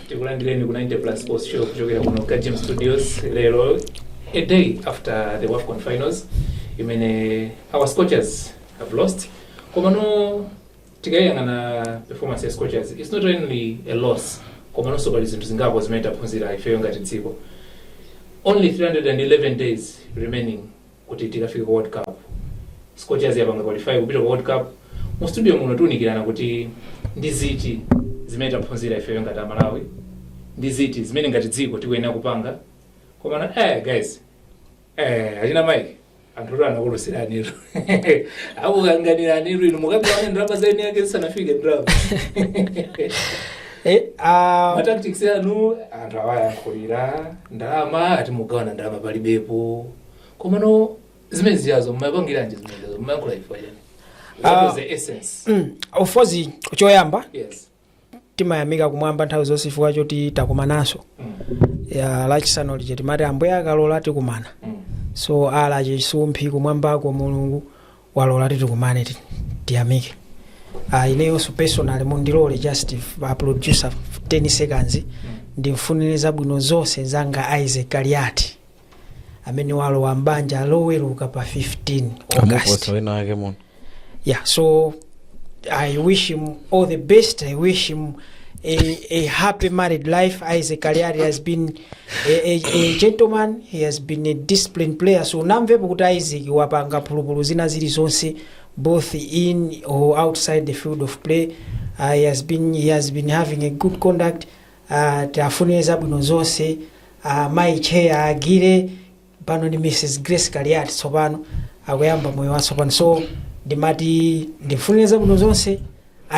takulandirani ku 90 plus sports show kuchokera kuno ka gym studios lero a day after the wafcon finals imene our scorchers have lost komano tikayang'ana performance ya scorchers its not only a loss komanso pali zinthu zingapo zimene taphunzira ifeyo ngati dziko only 311 days remaining kuti tikafike ku world cup scorchers yapanga qualify kupita ku world cup mu studio muno tiunikirana kuti ndi ziti zimene taphunzira ifeyo ngati amalawi ndi ziti zimene ngati dziko tikuyenera kupanga komano eh guys Eh, achina Mike, anthu anu anakulusirani. Akukanganirani inu mukagawana ndalama za eni ake zisanafike ndalama. Eh, ah, Ma tactics anu anthu awayankhulira ndalama ati mugawana ndalama palibepo. Komano zimene zijazo mumapangira nji zimene zijazo mumayankhula ife yani. That Ah. was the essence. mm, of course choyamba Yes. timayamika kumwamba nthawi zonse chifukwa choti takumananso ya lachisanu lija timati ambuye akalola tikumana so ala chisumphi kumwambako mulungu walola tikumane ti- tiyamike Ah, ineyonso personal mundilole just a producer 10 seconds ndimfunire zabwino zonse mzanga isaac kaliati amene walowa m'banja loweruka pa 15 august amuposa wina wake muno yeah so i wish him all the best i wish him a, a happy married life isaac kaliari has been a, a, a gentleman he has been a disciplined player so namvepo kuti isaac wapanga phulupulu zina zili zonse both in or outside the field of play uh, he, has been, he has been having a good conduct Aaa tiafunile zabwino zonse aa mayi chair achire pano ndi Mrs Grace Kaliati tsopano akuyamba moyo watsopano so ndimati ndimfunile zabwino zonse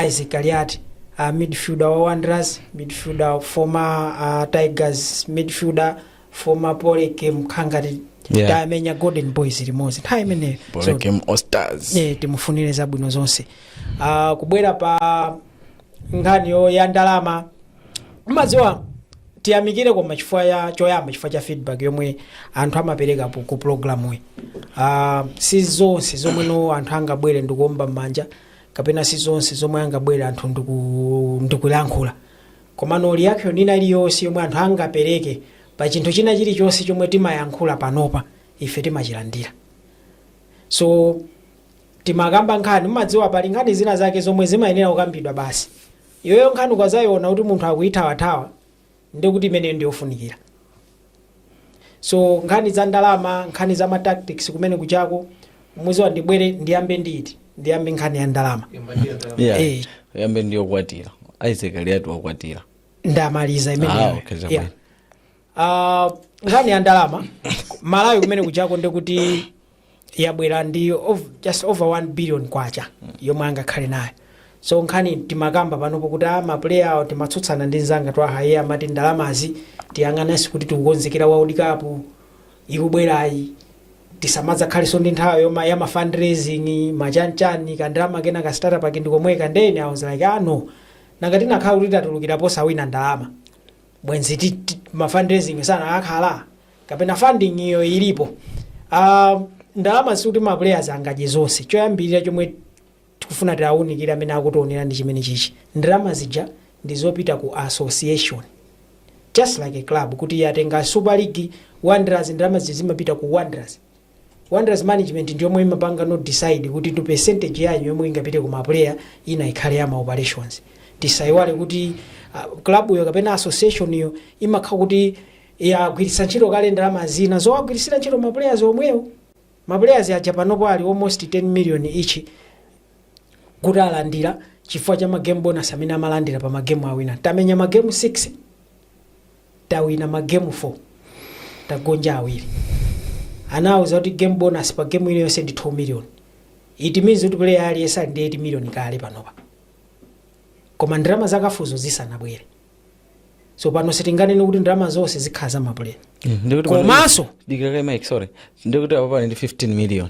Isaac Kaliati aa midfielder wa Wanderers midfielder former aa Tigers midfielder former Polygame nkhala ngati Yeah. tamenya Golden Boys limodzi nthawi imeneyo so Polygame All Stars. eh timufunile zabwino zonse aa kubwera pa nkhani ya ndalama mumadziwa tiyamikire koma chifukwa ya choyamba chifukwa cha feedback yomwe anthu amapereka po- ku programu yi uh, si zonse zomwe no anthu angabwere ndikuomba m'manja kapena si zonse zomwe angabwere anthu ndiku- ndikulankhula komano reaction ina iliyonse yomwe anthu angapereke pa chinthu china chilichonse chomwe timayankhula panopa ife timachilandira so Timakamba nkhani, mumadziwa pali nkhani zina zake zomwe zimayenera kukambidwa basi. Iweyo nkhani ukadzaiona kuti munthu akuithawathawa ndiye kuti imeneyo ndi yofunikira. So nkhani za ndalama, nkhani za ma tactics kumene kujako, mudziwa ndibwere ndiyambe ndi iti, ndiyambe nkhani ya ndalama. Yeah. Eh. Yambe ndiyokwatira. Isaac Kaliati wakwatira. Ndamaliza Ah, imeneyo. okay, chabwino. Yeah. Ah, nkhani ya ndalama malawi kumene kujako ndikuti yabwera ndi ov- just over 1 billion kwacha yomwe angakhale nayo so nkhani timakamba panopo kuti a mapuleya awo timatsutsana ndi nzanga twahaye amati ndalamazi tiyang'ananso kuti tikukonzekera world cup ikubwerayi tisamadzakhalenso ndi nthawi yomwe ya mafundraising machanchani kandalama kena ka startup ake ndikomweka ndiyeno i was like ah no nanga tinakakhala kuti tatulukira posawina ndalama bwenzi ti, ti, ma fundraising sanakhala kapena funding iyo ilipo uh, ndalama sikuti ma players angadye zonse choyambirira chomwe tikufuna tiwaunikire amene akutionera ndi chimene chichi ndalama zija ndi zopita ku association just like a club kuti yatenga super league wanderers ndalama zija zimapita ku wanderers Wanderers management ndiyomwe imapanga not decide kuti percentage yawo yomwe ingapite ku ma player ina ikhale ya ma operations. Tisaiwale kuti uh, club yo kapena association yo imakhala kuti yagwiritsa ntchito kale ndalama zina zowagwiritsira ntchito ma players omwewo. Ma players aja panopo ali almost 10 million each kuti alandira chifukwa cha ma game bonus amene amalandira pa ma game awina. Tamenya ma game 6 tawina ma game 4 tagonja awiri anawauza kuti game bonus pa game ina iliyonse ndi 2 million it means kuti player aliyense ali ndi 8 million kale panopa koma ndalama za CAF zo zisanabwere so pano sitinganene kuti ndalama zonse zikhala za mapuleya Ndikuti pano- komanso dikira kaye mike sorry ndikuti apo ali ndi 15 million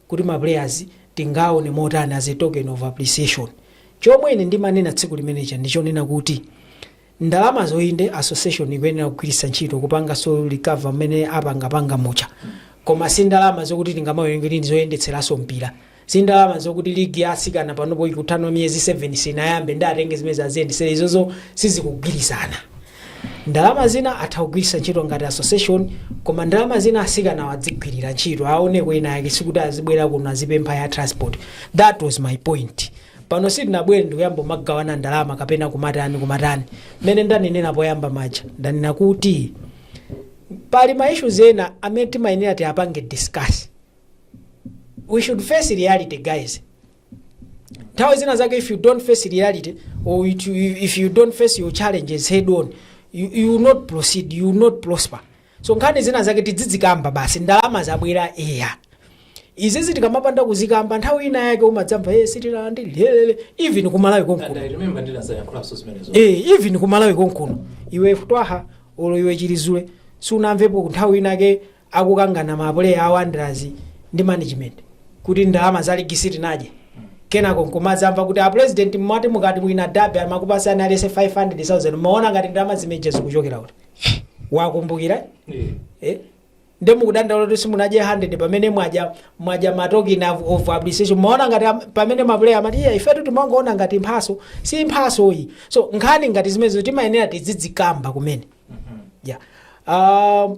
kuti ma players tingawaone motani as a token of appreciation chomwe ine ndimanena tsiku limene lija ndichonena kuti ndalamazo inde association ikuyenera kugwiritsa ntchito kupanganso recover mmene apangapanga muja koma si ndalama zokuti tingamawerenge kuti ndizoyendetseranso mpira si ndalama zokuti ligi ya asikana panopo ikuthano miyezi 7 sinayambe nde atenge zimene zo aziyendetsera izozo sizikugwirizana Ndalama zina atha kugwiritsa ntchito ngati association koma ndalama zina asikanawo adzigwirira ntchito aoneko kena kake sikuti azibwera kuno azipempha ya transport that was my point pano sitinabwere ndikuyamba kumagawana ndalama kapena kumatani kumatani mmene ndanenera poyamba muja ndanena kuti pali ma issues ena amene timayenera tiyapange discuss we should face reality guys nthawi zina zake if you don't face reality or it, if you don't face your challenges head on you, you will not proceed you will not prosper so nkhani zina zake tidzidzikamba basi ndalama zabwera eya izizi tikamapanda kuzikamba nthawi ina yake umadzamva hey, sitilandira even kumalawi konkuno And I remember ndinadzayankhulanso zimenezo Eh, even kumalawi konkuno iwe twaha olo iwe chilizule sunamvepo nthawi inake akukangana ma player a Wanderers ndi management kuti ndalama za ligi sitinadye kenako nkumadzamva kuti a president mmati mukati mwina dabe amakupasani alese 500,000 mmaona ngati ndalama zimeje zikuchokera kuti wakumbukira eh? nde mukudandaula kuti simunadye 100 pamene mwaja mwaja matokini of, of appreciation mmaona ngati am- pamene mapuleya amati iya ifetu timangoona ngati mphaso si mphaso iyi so nkhani ngati zimenezo timayenera tizidzikamba kumene yeah. uh,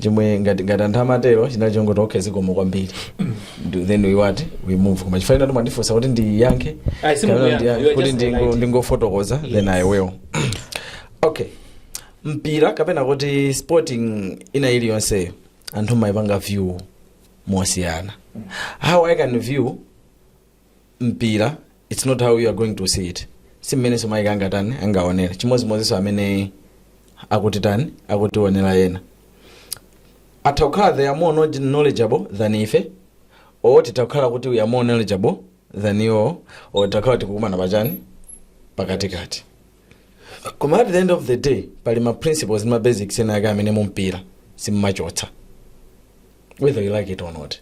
chimwe ngati ngati anthu amatero chinali chongoti okay zikomo kwambiri Do- then we what we move koma chifukwa ino mwandifunsa kuti ndiyankhe Ayi, si kapena mukuyankha. ndiya- You are kuti just ndingo- polite. ndingofotokoza then i will okay mpira kapena kuti sporting ina iliyonseyo anthu amaipanga view mosiyana how i can view mpira its not how you are going to see it si mmenenso mayi angatani angaonere chimodzimodzinso amene akutitani akutionera ena atha kukhala they are more knowledge- knowledgeable than ife or titha kukhala kuti we are more knowledgeable than iwo or takhala tikukumana pachani pakatikati koma at the end of the day pali ma principles ndi ma basics ena ake amene mumpira simumachotsa whether you like it or not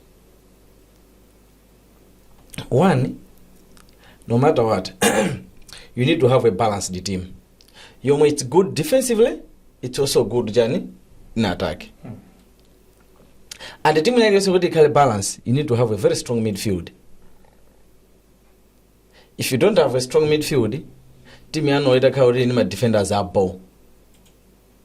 one no matter what you need to have a balanced team yomwe it's good defensively it's also good chani in attack and timu yake yonse kuti ikhale balance you need to have a very strong midfield if you don't have a strong midfield timu yanu itakhala kuti ni madefenders abo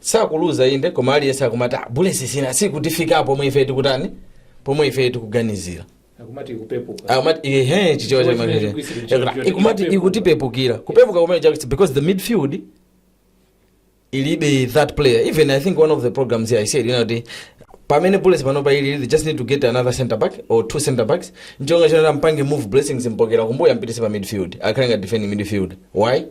sakuluza inde koma aliyense akumati "Ah, Bullets sina sikutifika pomwe ife tikutani pomwe ife tikuganizira akumati kupepuka akumati ehe chichewa cha Chomwe chimene Manchester. chikuisira Yakula, chimene ikumati chikupepuka. ikutipepukira kupepuka kumene chakuti because the midfield ilibe that player even i think one of the programs here i said you know the pamene bullets panopa ili they just need to get another center back or two center backs nchonga chonera mpange move blessings m'pokera kumbuyo ampitise pa midfield akhale nga defending midfield why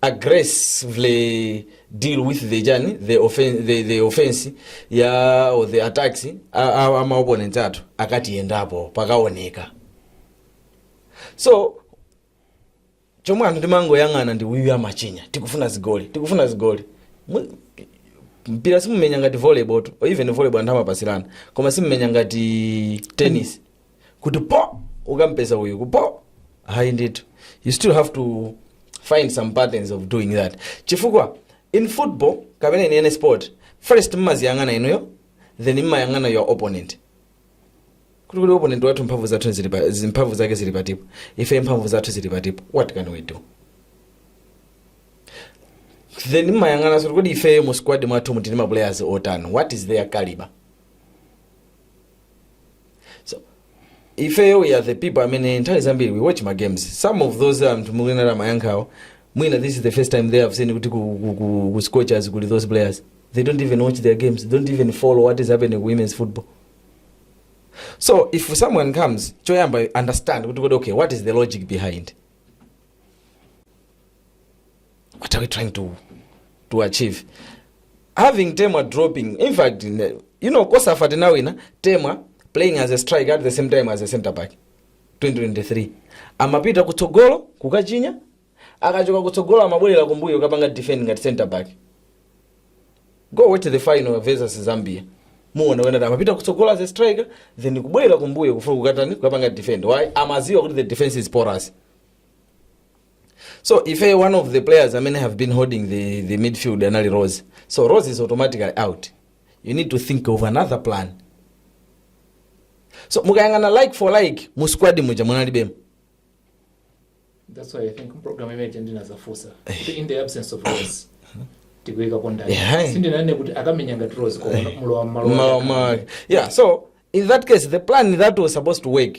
aggressively deal with the chani the offense, the, the offense ya or the attacks a- a- a maopponents athu akatiyendapo pakaoneka so chomwe anthu timangoyang'ana ndi uyu amachinya tikufuna zigoli tikufuna zigoli Mu- mpira simumenya ngati volleyball tu or even volleyball anthu amapasirana koma simumenya ngati tennis kuti po ukampeza uyu kupo hayi ndithu you still have to find some patterns of doing that chifukwa in football kapena in any sport first mmaziyang'ana inuyo then mmayang'ana your opponent kuti kuti opponent wathu mphamvu zathu zili pa- zi- mphamvu zake zili patipo ife mphamvu zathu zili patipo what can we do then mmayang'ana kuti kuti ifeyo mu squad mwathu muli ma players otani what is their caliber ifeyo we are the people amene nthawi zambiri we watch ma games some of those anthu mukuona amayankhawo mwina this is the first time they have seen kuti ku scorchers kuli those players they don't even watch their games they don't even follow what is happening ku women's football so if someone comes choyamba understand kuti kodi okay what is the logic behind what are we trying to to achieve having temwa dropping in fact ne- you know cosafa tinawina temwa playing as a striker at the same time as a center back 2023 amapita kutsogolo kukachinya akachoka kutsogolo amabwerera kumbuyo kapanga defend ngati center back go watch the final versus zambia muone ena amapita kutsogolo as a striker then kubwerera kumbuyo kufuna kukatani kukapanga defend why amadziwa kuti the defense is porous so ife one of the players amene have been holding the, the midfield anali rose so rose is automatically out you need to think of another plan so mukayang'ana like for like mu squad muja munalibemo That's why I think program image ndinazafusa. Kuti In the absence of Rose. Tikuika pondani. Yeah. Sindinane kuti akamenya ngati Rose kwa mulowa mmalo. Mma- mma- yeah so in that case the plan that was supposed to work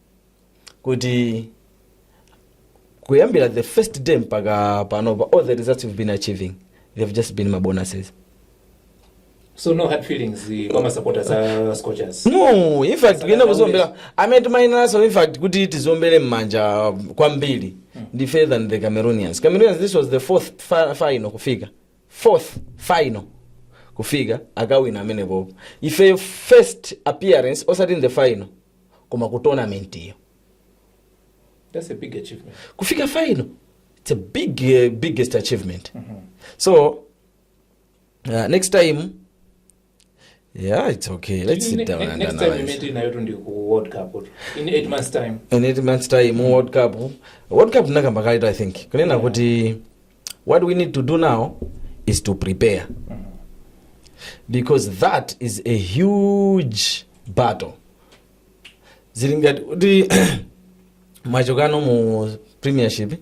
kuti kuyambira the first day mpaka panopa all the results we've been achieving they've just been ma bonuses so no hard feelings eh, kwa masapota a scorchers no in fact oyenera kuziombera amene timayinanso in fact kuti tiziombere m'manja kwambiri ndife than the cameroonians cameroonians this was the fourth fi- final kufika fourth final kufika akawina amenepopo ifeyo first appearance osati in the final koma ku tournament iyo That's a big achievement. kufika final it's a big uh, biggest achievement so uh, next time yeah it's okay let's sit Ne- down ne- and next time we analyze meet in Nairobi ndi ku World Cup or in eight months time. in eight months time world cup world cup nakamba kaletu i think kunena kuti what we need to do now is to prepare because that is a huge battle zili ngati kuti mwachokano mu premiership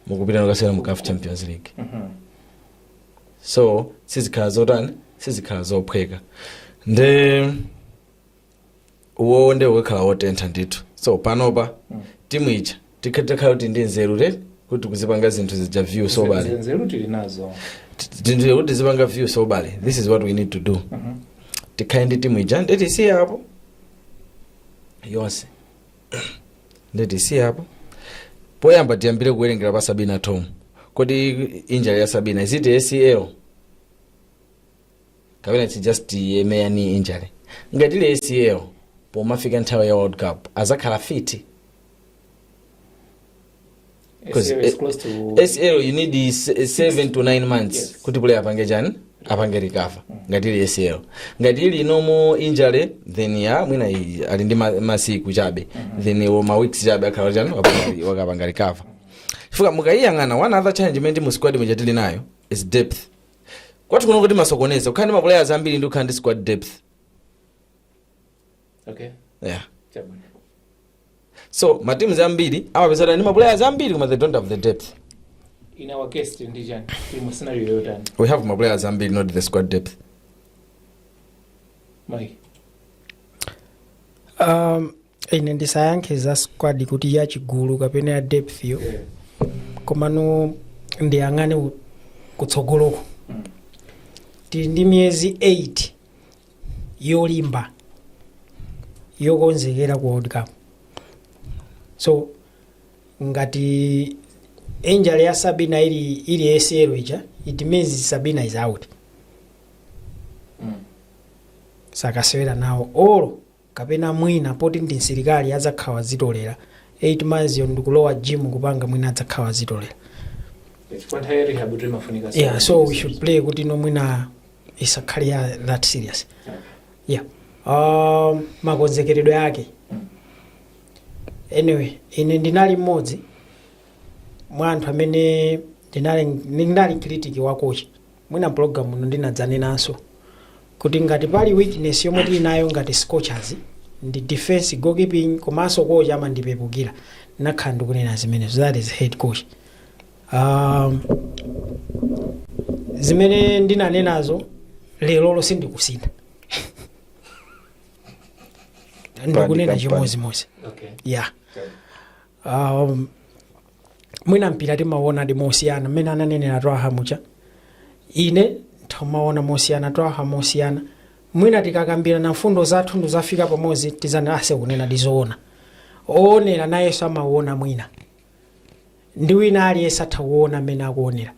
mukupita no kasewera mu caf champions league so sizikhala zotani sizikhala zophweka nde uwowo nde ukakhala otentha ndithu so panopa timu ija tikha- tikhala kuti ndi nzeru te kuti kuzipanga zinthu zija view soberly nzeru tili nazo tindile kuti zipanga view soberly this is what we need to do tikhale ndi timu ija nde tisiye apo yonse nde tisiye apo poyamba tiyambire kuwerengera pa sabina thom kodi injury ya sabina is it acl kapena it's just a mere knee injury ngati ili acl pomafika nthawi ya world cup azakhala fit 'Cause ACL is it- close to- acl you need i- se- seven to nine months Yes. kuti player apange chani apange recover ngati ili acl ngati ili normal injury then ya mwina i- ali ndi ma- masiku chabe then iwo ma weeks chabe akhala chani wapanga- wakapanga recover chifukwa mukayiyang'ana one other challenge imene ndi mu squad muja tili nayo is depth kwathu kuno timasokoneza kukhala ndi maplayers ambiri ndi kukhala ndi squad depth okay yeah chabwino so mateams ambiri amapezeka kuti ali ndi maplayers ambiri koma they don't have the depth in our case ndi chani tili mu scenario yotani we have maplayers ambiri not the squad depth mike Um, ine ndisayankhe za squad kuti ya chigulu kapena ya depth yo komano ndiyang'ane u- kutsogoloko tili ndi miyezi 8 yolimba yokonzekera ku world cup so ngati injury ya sabina ili ili acl ija it means sabina is out sakasewera nawo olo kapena mwina poti ndi msilikali adzakhala wadzitolera 8 months yo ndikulowa gym kupanga mwina adzakhala wadzitolera chifukwa nthawi ya rehab tu imafunika yeah so we should pray kuti no mwina isakhale ya that serious yeah um, makonzekeredwe ake anyway ine ndinali mmodzi mwa anthu amene ndinali ndinali critic wa kochi Mwina mu program ino ndinadzanenanso kuti ngati pali weakness yomwe tili nayo ngati scorchers ndi defence, goalkeeping komanso coach amandipepukira ndinakhala ndikunena zimenezo that is head coach um, zimene ndinanenazo leroli sindikusintha ndikunena Pandika, chimodzimodzi Okay. yeah um, mwina mpira timauonadi mosiyana mmene ananenera twaha muja ine timauona mosiyana twaha mosiyana mwina tikakambirana mfundo zathu tidzafika pamodzi tizana ase kunena dizoona owonera nayenso amauona mwina ndi wina aliyense atha kuuona mmene akuuonera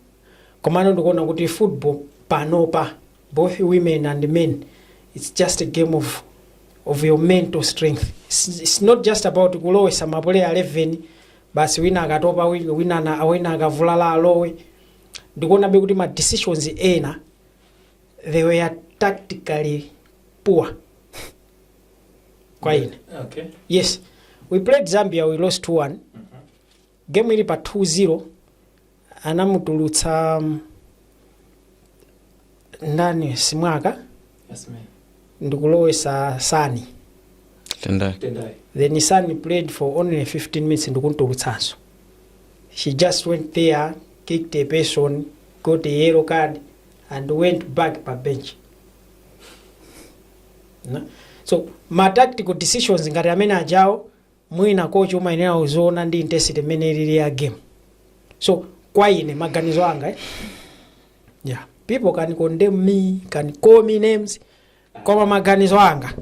komano ndikuona kuti football panopa both women and men it's just a game of, of your mental strength it's, it's not just about kulowetsa mapuleya 11 basi wina akatopa wi- wina na wina akavulala alowe ndikuonabe kuti ma decisions ena they were tactically poor kwa ine Okay. yes we played zambia we lost 2-1 game ili pa 2-0 anamutulutsa ndani simwaka Asimenye. ndikulowetsa sani Tendai. Tendai. then sani played for only 15 minutes ndikumtulutsanso she just went there kicked a person got a yellow card and went back pa bench Na? so ma tactical decisions ngati amene ajawo mwina coach umayenera uziona ndi intensity mmene ilili ya game so kwa ine maganizo anga eh? yeah. people can condemn me can call me names koma maganizo anga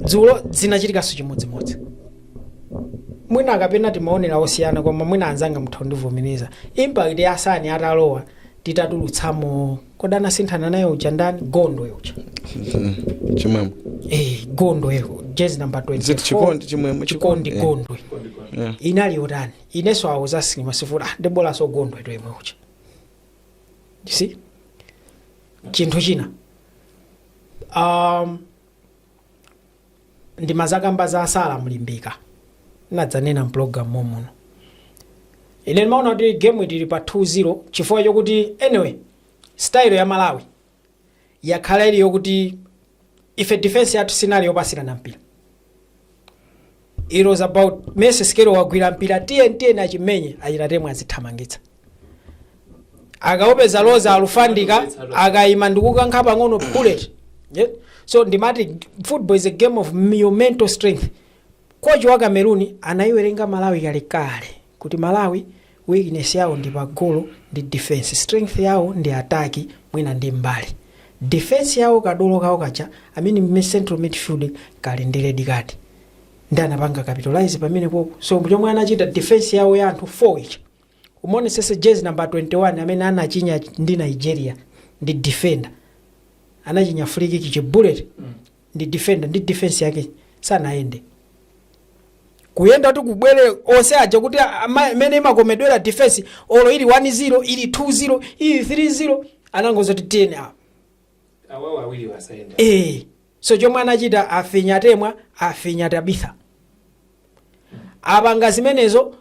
dzulo zinachitikanso chimodzimodzi mwina kapena timaonera zosiyana koma mwina anzanga mutha kundivomereza impact ya sani atalowa titatulutsamo kodi anasinthana naye uja ndani gondwe uja chimwemwe Eh, gondwe jezi namba 24 Ziti chikondi, chimwemwe, chikondi chikondi, gondwe Yeah. inali yotani inenso awo zasinima sifuti ah ndibolaso gondwe to yemwe uja You see chinthu china um, ndimazakamba za a Sala mlimbika nadzanena mpulogalamu momuno ine ndimaona kuti game ili pa 2-0 chifukwa chokuti anyway style ya malawi yakhala ili yokuti ife defense yathu sinali yopasirana mpira it was about Mercy Sikelo wagwira mpira tiyeni tiyeni achimenye achitatemwe azithamangitsa akaupeza loza alowa afendika akaima ndikukankha pang'ono bullet yeah? so ndimati football is a game of your mental strength kochi wa cameroon anaiwerenga malawi kalekale kuti malawi weakness yawo ndi pagolo ndi defense strength yawo ndi attack mwina ndi mbali defense yawo kadolo kawo kaja amene mme central midfield kali ndi red card ndi anapanga capitalize pamene popo so chomwe anachita defense yawo ya anthu 4 ija Umuonesese jersey number 21 amene anachinya ndi Nigeria ndi defender. Anachinya free kick chi bullet ndi defender ndi defense yake sanayende. Kuyenda kuti kubwere onse aja kuti ama- amene imakomedwera defense olo ili 1-0 ili 2-0 ili 3-0 anangowauza kuti tiyeni apa. awawo awiri asayende Eh, so chomwe anachita afinya temwa afinya tabitha apanga zimenezo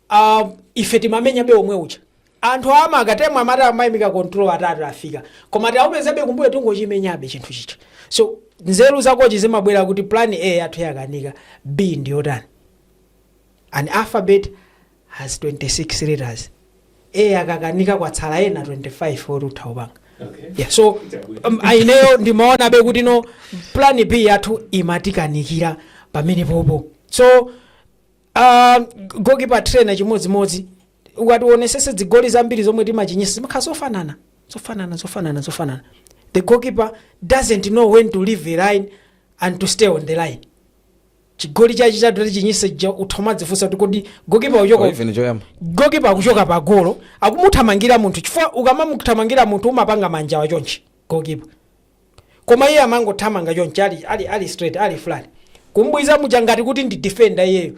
uh, ife timamenyabe omwe uja anthu amaka temwe amati amaimika control atatu afika koma tiaupezabe kumbuyo tingochimenyabe chinthu chija so nzeru zakochi zimabwera kuti plan a yathu yakanika b ndiyotani an alphabet has 26 letters a akakanika kwatsala ena 25 oti utha kupanga Okay. yeah, so um, ah ineyo ndimaonabe kuti no plan b yathu imatikanikira pamene popo so uh, gokipa trainer chimodzimodzi ukatiwonesese zigoli zambiri zomwe timachinyisa zimakhala zofanana zofanana zofanana zofanana the goalkeeper doesn't know when to leave the line and to stay on the line chigoli chachi chadati chinyise ja utha kumadzifunsa kuti kodi gokipa uchoka Or even choyamba gokipa akuchoka pa golo akumuthamangira munthu chifukwa ukamamuthamangira munthu umapanga manja awa chonchi gokipa koma iye amangothamanga chonchi ali, ali, ali straight ali flat kumbwiza muja ngati kuti ndi defender iyeyo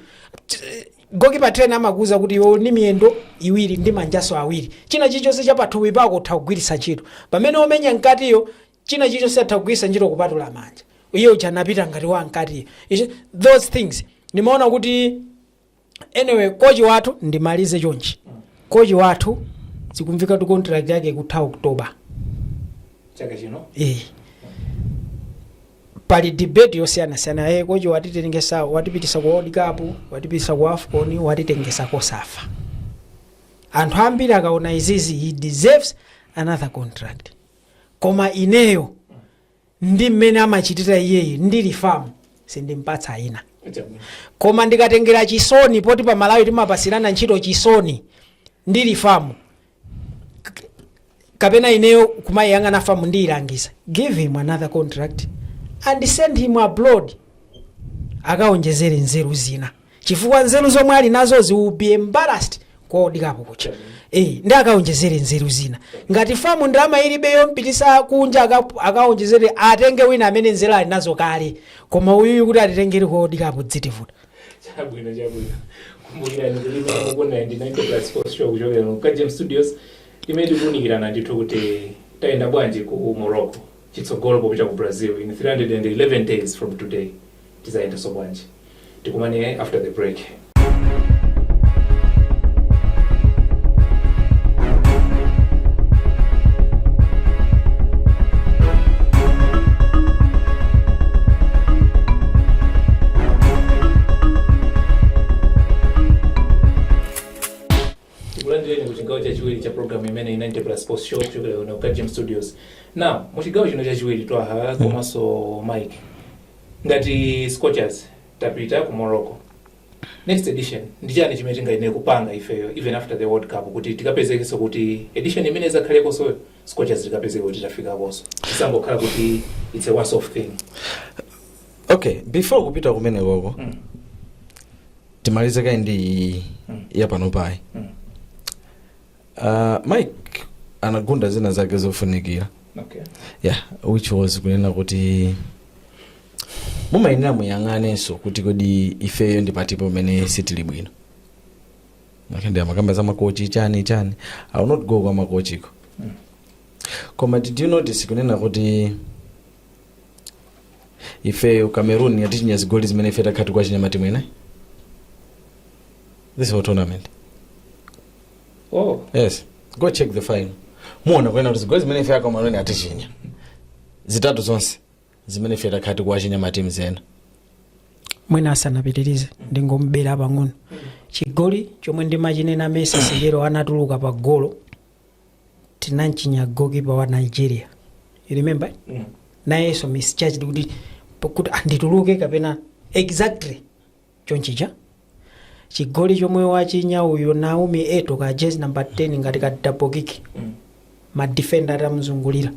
gokipa trainer amakuuza kuti iwe uli ndi miyendo iwiri ndi manjaso awiri china chilichonse cha pathupi pako utha kugwiritsa ntchito pamene omenya mkatiyo china chilichonse atha kugwiritsa ntchito kupatula manja iye uja anapita ngati wa mkatiyo Ichi- those things ndimaona kuti anyway kochi wathu ndimalize chonchi kochi wathu zikumvika tu contract yake kutha oktoba chaka chino Eh. pali debate yosiyanasiyana eh, kochi watitengesa watipitisa ku world cup watipitisa ku afcon watitengesa kosafa anthu ambiri akaona izizi he deserves another contract koma ineyo ndi mmene amachitira iyeyi ndili famu sindimpatsa ina koma ndikatengera chisoni poti pa malawi timapatsirana ntchito chisoni ndili famu K- kapena ineyo kumayiyang'ana famu ndiyilangiza give him another contract and send him abroad akawonjezere nzeru zina chifukwa nzeru zomwe ali nazozi will be embarrassed ku world cup kuja eh ndi akaonjezere nzeru zina ngati famu ndalama ilibe yompitisa kunja aka- akaonjezere atenge wina amene nzeru ali nazo kale koma uyuyu kuti atitengere ku world cup zitivuta chabwino chabwino kumbukirani muli pa 90 plus sports show kuchokera mu kajem studios imene tikuunikirana ndithu kuti tayenda bwanji ku morocco chitsogolo popita ku brazil in 311 days from today tizayendanso bwanji tikumane after the break tikulandireni ku chigawo chachiwiri cha programu imeneyi ya ninety plus sports show kuchokera kuno ku kajem studios now mu chigawo chino chachiwiri twaha komanso mike Ngati scorchers tapita ku Morocco next edition ndi chani chimene tingayenere kupanga ifeyo even after the world cup kuti tikapezekenso kuti edition imene izakhalekonsoyo scorchers tikapezeke kuti tafikakonso isangokhala kuti it's a once off thing okay before kupita kumene koko Mm. timalize kaye ndi iyi Mm. yapanopayi Mm. Uh, mike anagunda zina zake zofunikira okay. yeah which was kunena kuti mumayenera muyang'anenso kuti kodi ifeyo ndi pati pomwe sitili bwino okay, ndi amakamba za makochi chani chani i will not go kwa makochiko koma did you notice kunena kuti ifeyo cameroon yatichinya zigoli zimene ife takhala tikuwachinya matimu ena this whole tournament oh yes go check the file muona kunena kuti zigoli zimene ife cameroon yatichinya zitatu zonse zimene ife takhala tikuwachinya matimu ena mwina asanapitirize ndingombera pang'ono chigoli chomwe ndimachinena mesa sikero anatuluka pa golo tinamchinya golokipa wa nigeria you remember nayenso misjudged kuti kuti andituluke kapena exactly chonchi ija chigoli chomwe wachinya uyo naomi eto ka jezi number 10 ngati ka double kick madefenda atamuzungulira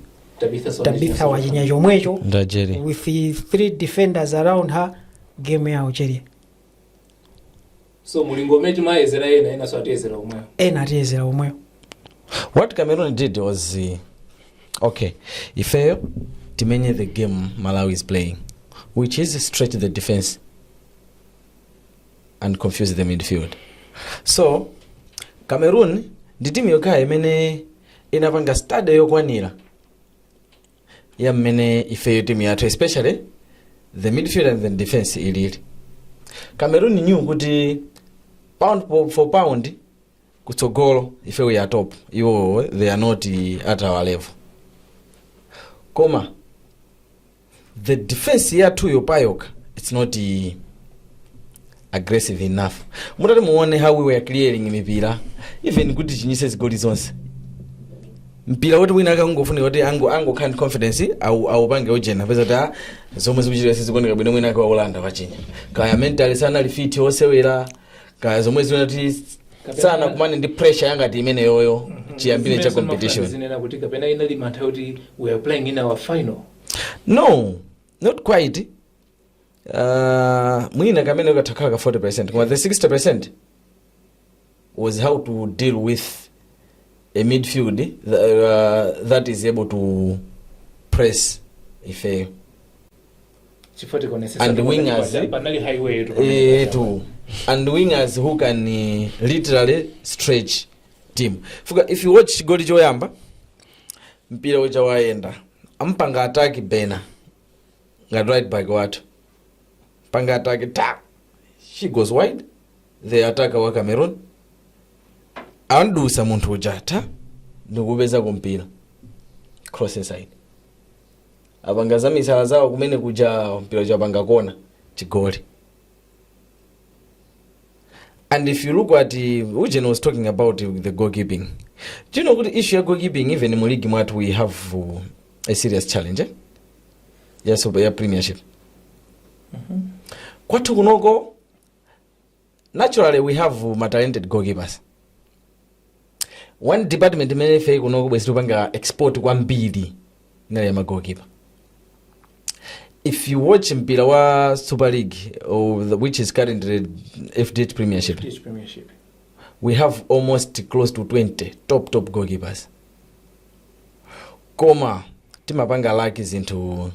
tabitha wachinya chomwecho ndajeri with the three defenders around her game ya ucheri so mulingo umene timayezera ena enanso atiyezera omwewo ena atiyezera omwewo what cameroon did was uh, okay ifeyo timenye the game malawi is playing which is stretch the defense and confuse the midfield so cameroon ndi timu yokhayo imene inapanga study yokwanira ya mmene ifeyo timu yathu especially the midfield and the defense ilili cameroon knew kuti pound po- for pound kutsogolo ife we are top iwo they are not at our level koma the defense yathuyo payokha it's not uh, aggressive enough mutati muone how we were clearing mipira even kutichinyitsa zigoli zonse mpira woti wina akangofunika kuti ango angokhala ndi confidence au- aupange ujeni upeza kuti zomwe zikuchitika sizikuoneka bwino mwina ake waulanda wachinya kaya mentally sanali fit osewera kaya zomwe zinati sanakumane ndi pressure yangati imeneyoyo chiyambire cha competition zonena kuti kapena inali mantha kuti we are playing in a final no not quite uh, mwina kameneko katha kukhala ka 40 percent koma the 60 percent was how to deal with a midfield th- uh, that is able to press ifeyo chifukwa tikaonetsetsa And panali wingers, paja- panali highway yetu Eh, to and wingers who can eh, literally stretch team chifukwa if you watch chigoli choyamba mpira uja wayenda ampanga attack bena ngati right back wathu ampanga attack ta she goes wide the attacker wa cameroon amdutsa munthu uja ta ndikupeza kampira cross inside apanga za misala zawo kumene kuja mpira uja apanga kona chigoli and if you look at uh, Ujen was talking about uh, the goalkeeping do you know kuti issue ya goalkeeping even mu league mwathu we have uh, a serious challenge eh? ya, super, ya premiership kwathu kunoko Naturally we have ma talented goalkeepers. One department imene ife kuno kubwezi tupanga export kwambiri inali ya ma goalkeeper. If you watch mpira wa Super League or the, which is currently FDH Premiership, British Premiership. we have almost close to 20 top top goalkeepers koma timapanga laki zinthu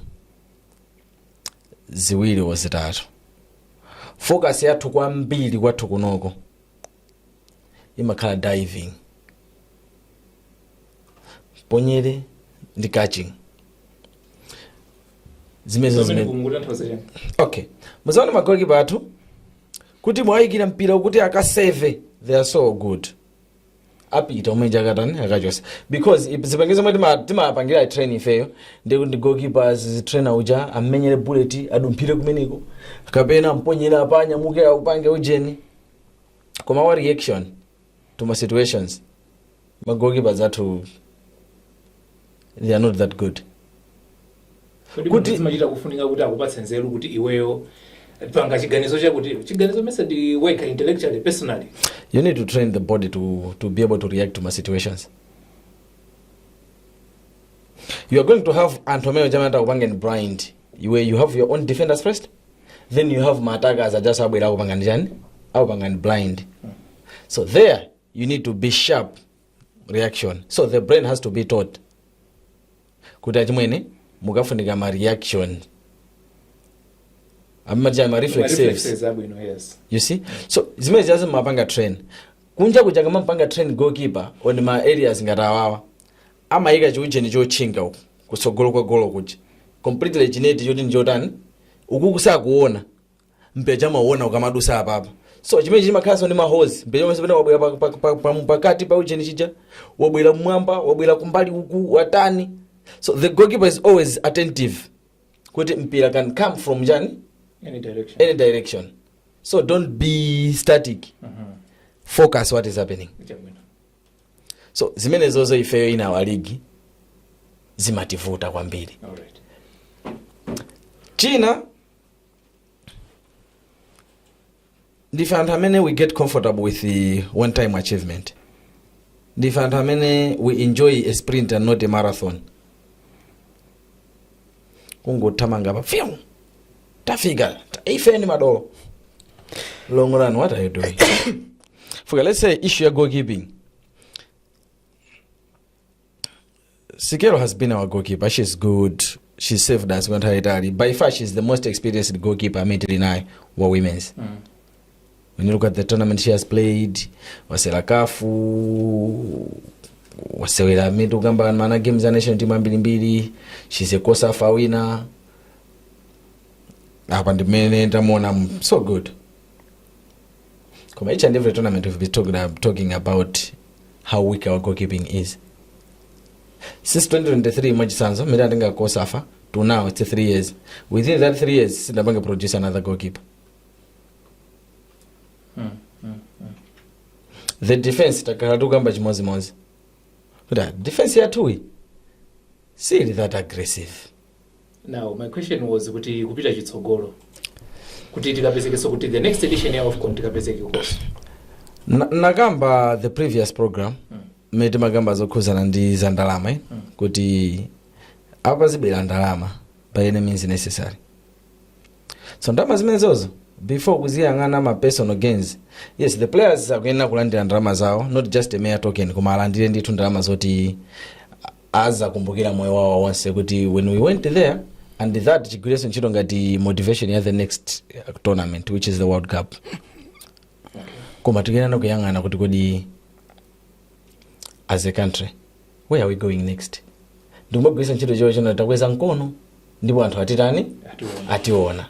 ziwiri or zitatu focus yathu kwambiri kwathu kunoko imakhala diving ponyere ndi catching zimenezo Pamene zimene kunguta nthawi zachani. okay mudzaona magolikipa athu kuti muwayikira mpira uku kuti akaseve they are so good apita umwemuja akatani akachotsa because ip- zipangizo zomwe tima- timapangira train ifeyo ndi kuti goalkeepers trainer uja ammenyere bullet adumphire kumeneko kapena amponyera apa anyamuke aupange ujeni koma wa reaction to ma situations ma goalkeepers athu they are not that good Kodi Kuti- kuti machita kufunika kuti akupatse nzeru kuti iweyo panga chiganizo chakuti chiganizo mesa ndi work intellectually personally you need to train the body to, to be able to react to ma situations you are going to have anthu amene amene atakupangeni blind iwe you have your own defenders first then you have ma attackers ajanso abwera akupangani chani akupangani blind so there you need to be sharp reaction so the brain has to be taught kuti achimwene mukafunika ma reaction amati chani ma reflexives Reflexes abwino yes you see so zimene ziyazi mumapanga train kunja kuja kamapanga train goalkeeper on ma areas ngati awawa amayika chiujeni chotchinga uku kusogolo kwa golo kuja completely chinet choti ndi chotani uku kusakuona mpira uja amauona ukamadusa apapa so chimene chimakhalanso ndi ma holes mpira uja mmene pamene wabwera pa- pa- pa- pa- pakati pa ujeni chija wabwera mmwamba wabwera kumbali uku watani so the goalkeeper is always attentive kuti mpira can come from chani Any direction. any direction so don't be static focus what is happening Chabwino. so zimenezozo ifeyo in our league zimativuta kwambiri All right. china ndife anthu amene we get comfortable with the one time achievement ndife anthu amene we enjoy a sprint and not a marathon kungothamanga pa few tafika ta- ife ni madolo long run what are you doing chifukwa let's say issue ya goalkeeping Sikero has been our goalkeeper. She's good. She saved us kwa nthawi itali. By far she's the most experienced goalkeeper amene tili naye wa women's. When you look at the tournament she has played, wasewera kafu, wasewera mitu kamba mana games za national team ambirimbiri. She's a COSAFA winner. Apa ndimene ndamuona so good. Koma each and every tournament we've been talking, uh, talking about how weak our goalkeeping is. Since 2023 mwachitsanzo mmene atenga kosafa to now it's 3 years. Within that 3 years sinapange produce another goalkeeper. The defense takhala tukamba chimodzimodzi. Kuti ah, defense yathuyi sili that aggressive. Now my question was kuti kupita chitsogolo kuti tikapezekeso kuti the next edition ya AFCON tikapezeke kukonso Na- nakamba the previous program mmene timakamba zokhuzana ndi za ndalama eh? kuti apa zibwera ndalama by any means necessary so ndalama zimenezozo before kuziyang'ana ma personal gains yes the players akuyenera kulandira ndalama zawo not just a mere token koma alandire ndithu ndalama zoti azakumbukira moyo wawo wonse kuti when we went there and that chigwirenso ntchito ngati motivation ya the next uh, tournament which is the world cup koma tikuyenera kuyang'ana kuti kodi as a country where are we going next ndikumagwiritsa ntchito chifukwa pano takweza mkono ndipo anthu atitani ationa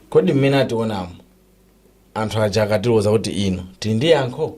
kodi mmene ationamo anthu aja akatiloza kuti ino tili ndi yankho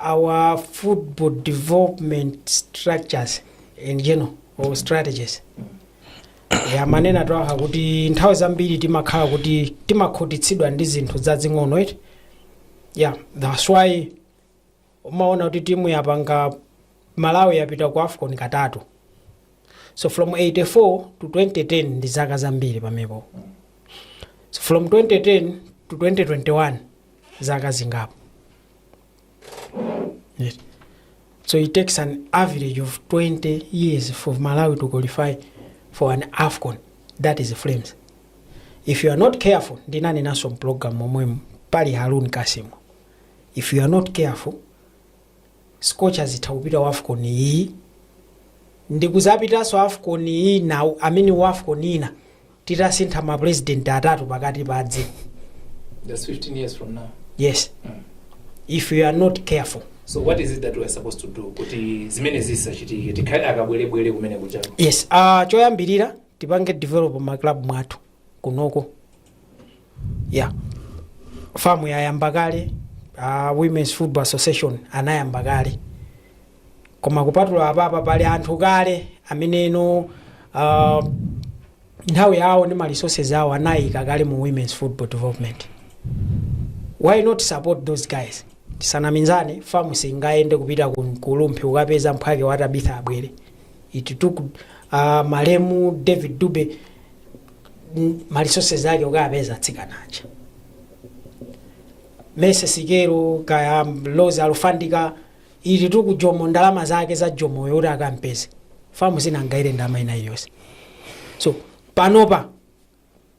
our football development structures in general or strategies Eh, amanena twaha kuti nthawi zambiri timakhala kuti timakhutitsidwa ndi zinthu zazing'ono eti yeah that's why umaona kuti timu yapanga malawi yapita ku afcon katatu so from 84 to 2010 ndi zaka zambiri pamepo so from 2010 to 2021 zaka zingapo Yes. So it takes an average of 20 years for Malawi to qualify for an AFCON. That is Flames. If you are not careful, ndinani naso program omwemu pali Harun Kasimo. If you are not careful, Scorchers itakupita wa AFCON iyi ndikuzapitaso AFCON iyi nawo amene wa AFCON ina titasintha ma president atatu pakati padzi That's 15 years from now. yes if you are not careful So what is it that we are supposed to do? Kuti zimenezi zisachitike tikhale akabwerebwere kumene kuja. yes uh, choyambirira tipange develop ma club mwathu kunoko yeah fam yayamba kale uh, women's football association anayamba kale koma kupatula apapa pali anthu kale amene no uh, nthawi yawo ndi ma resources awo anayika kale mu women's football development why not support those guys tisanamizane fam singayende kupita ku ku rumphi kukapeza mphwake wa tabitha abwere it took uh, malemu david dube mm, ma resources ake kukawapeza atsikana aja mercy sikelo kaya rose alufandika it took jomo ndalama zake za jomoyo kuti akampeze fam sinangaire ndalama ina iliyonse so panopa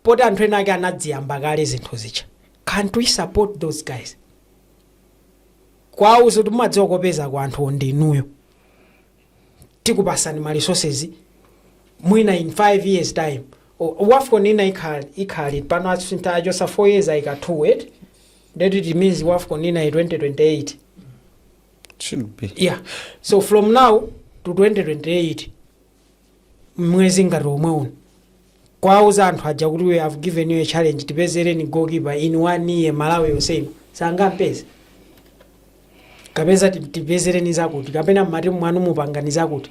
poti anthu ena ake anaziyamba kale zinthu zija can't we support those guys kuwauza kuti mumadziwa kopeza kwa anthuwo ndinuyo tikupasani ma resources mwina in 5 years time O- wafcon ina ikhala ikhala liti pano asintha achosa 4 years ayika 2 et that it means wafcon ina i 2028 should be yeah so from now to 2028 mmwezi ngati omwe uno kuwauza anthu aja kuti we have given you a challenge tipezereni goalkeeper in one year malawi yonse ino sangampeze kapeza ti- tipezereni zakuti kapena mmatimu mwanumu pangani zakuti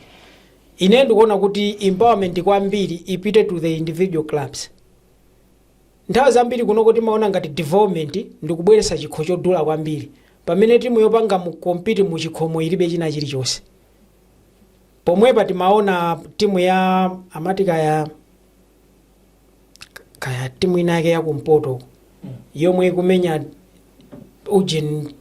ine ndikuona kuti empowerment kwambiri ipite to the individual clubs nthawi zambiri kunoko timaona ngati development ndikubweretsa chikho chodula kwambiri pamene timu yopanga mu compete mu chikhomo ilibe china chilichonse pomwepa timaona timu ya amati kaya kaya timu ina yake ya kumpoto yomwe ikumenya ujeni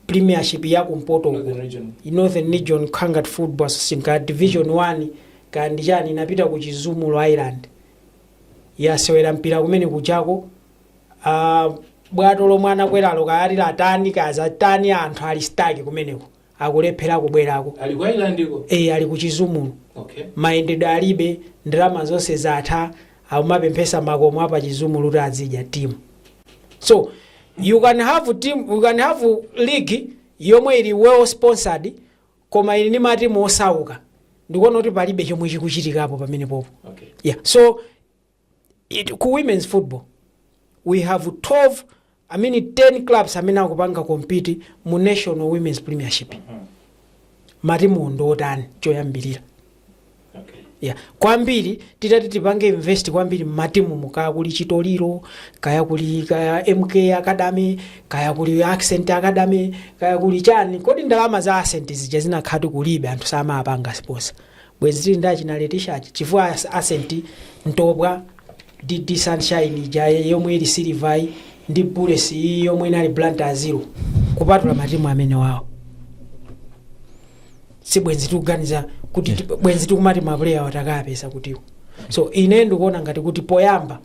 premiership ya kumpoto uko Northern region. northern region kangat football association ka division 1 kaya ndichani inapita ku chizumulu island yasewera mpira kumene kujako ah, bwato lomwe anakweralo kaya ati latani kaya zatani anthu ali stuck kumeneko akulephera kubwerako Ali ku island ko? e, ali ku chizumulu Okay. mayendedwe alibe ndalama zonse zatha akumapemphetsa m'makomo a pa chizumulu kuti azidya timu so you can have team you can have league yomwe ili well sponsored koma ili ndi matimu osauka ndikuona kuti palibe chomwe chikuchitikapo pamenepopo Okay. yeah so so ku women's football we have 12 i mean 10 clubs amene akupanga compete mu national women's premiership matimu ndi otani choyambirira yeah. kwambiri titati tipange invest kwambiri mmatimumo kaya kuli chitoliro kaya kuli kaya mk academy kaya kuli ascent academy kaya kuli chani kodi ndalama za ascent zija zinakhati kulibe anthu samapanga sponsor Bwezi tili ndi achina Letisha aja chifukwa ascent ntopwa dd sunshine ija yomwe ili silver yi ndi bullets iyi yomwe inali blantyre zero kupatula matimu amenewawo sibwenzi tikuganiza kuti ti- bwenzi tikumati mapuleyawa takaapeza kutiko so ine ndikuona ngati kuti poyamba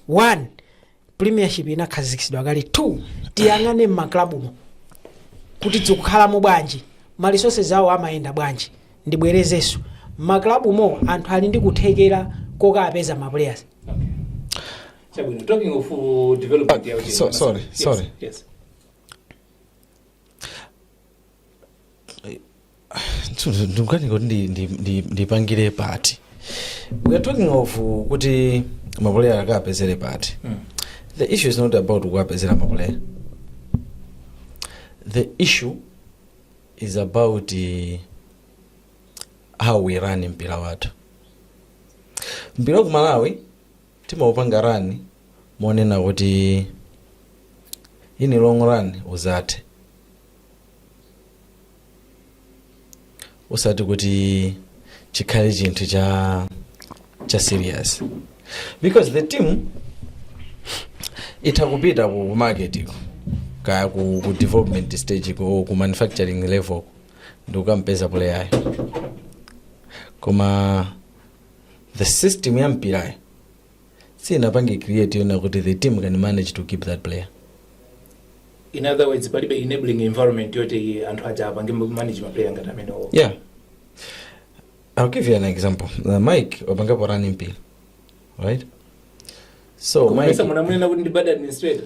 one premiership inakhazikitsidwa kale two tiyang'ane m'maklabumo kuti zikukhalamo bwanji ma resources awo amayenda bwanji ndibwerezenso m'maklabumo anthu ali ndi kuthekera kokapeza ma players Chabwino, talking of uh, development ya Ah, uchenga so- sorry, Yes, sorry. yes. ndikukanika kuti ndi- ndi- ndi- ndipangire pati we are talking of uh, kuti mapuleya akapezere pati the issue is not about kuwapezera mapuleya the issue is about uh, how we run mpira wathu mpira wa ku malawi timaupanga run monena kuti in long run uzathe osati kuti chikhale chinthu cha cha serious because the team itha kupita ku ku market iko kaya ku, ku development stage iko or ku manufacturing level ndikukampeza player koma the system ya mpirayo siinapange create yonena kuti the team can manage to keep that player. in other words palibe enabling environment yoti anthu aja apange manage maplayer ngati amenewo Yeah. I'll give you an example. Uh, Mike wapangapo run mpira. Right? So Mike kumesa munamunena kuti ndi bad administrator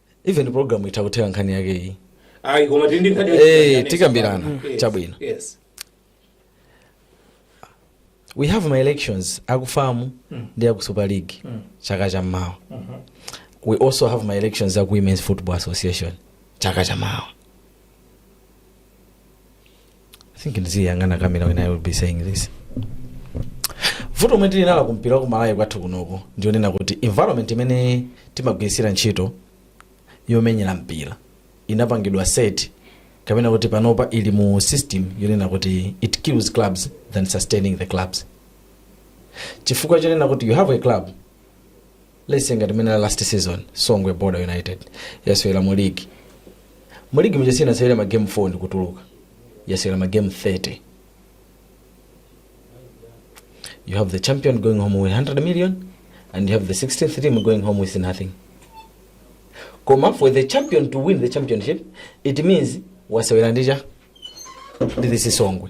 even program itha kutheka nkhani yake iyi ayi koma tili ndi nkhani Eh, yachikhalidwe. tikambirana. Yes, Chabwino. yes. we have ma elections aku FAM ndi aku super league chaka cha mawa we also have ma elections aku women's football association chaka cha mawa I think ndiziyang'ana kamera when I will be saying this vuto lomwe tili nalo kumpira ku malawi kwathu kunoko ndionena kuti environment imene timagwiritsira ntchito yomenyera mpira inapangidwa set kapena kuti panopa ili mu system yonena kuti it kills clubs than sustaining the clubs chifukwa chonena kuti you have a club lesi ngati mene last season songwe border united yasewera mu ligi mu ligi muja sinasewera ma game 4 ndikutuluka yasewera ma game 30 you have the champion going home with 100 million and you have the 16th team going home with nothing koma for the champion to win the championship it means wasewera ndicha ndi this songwe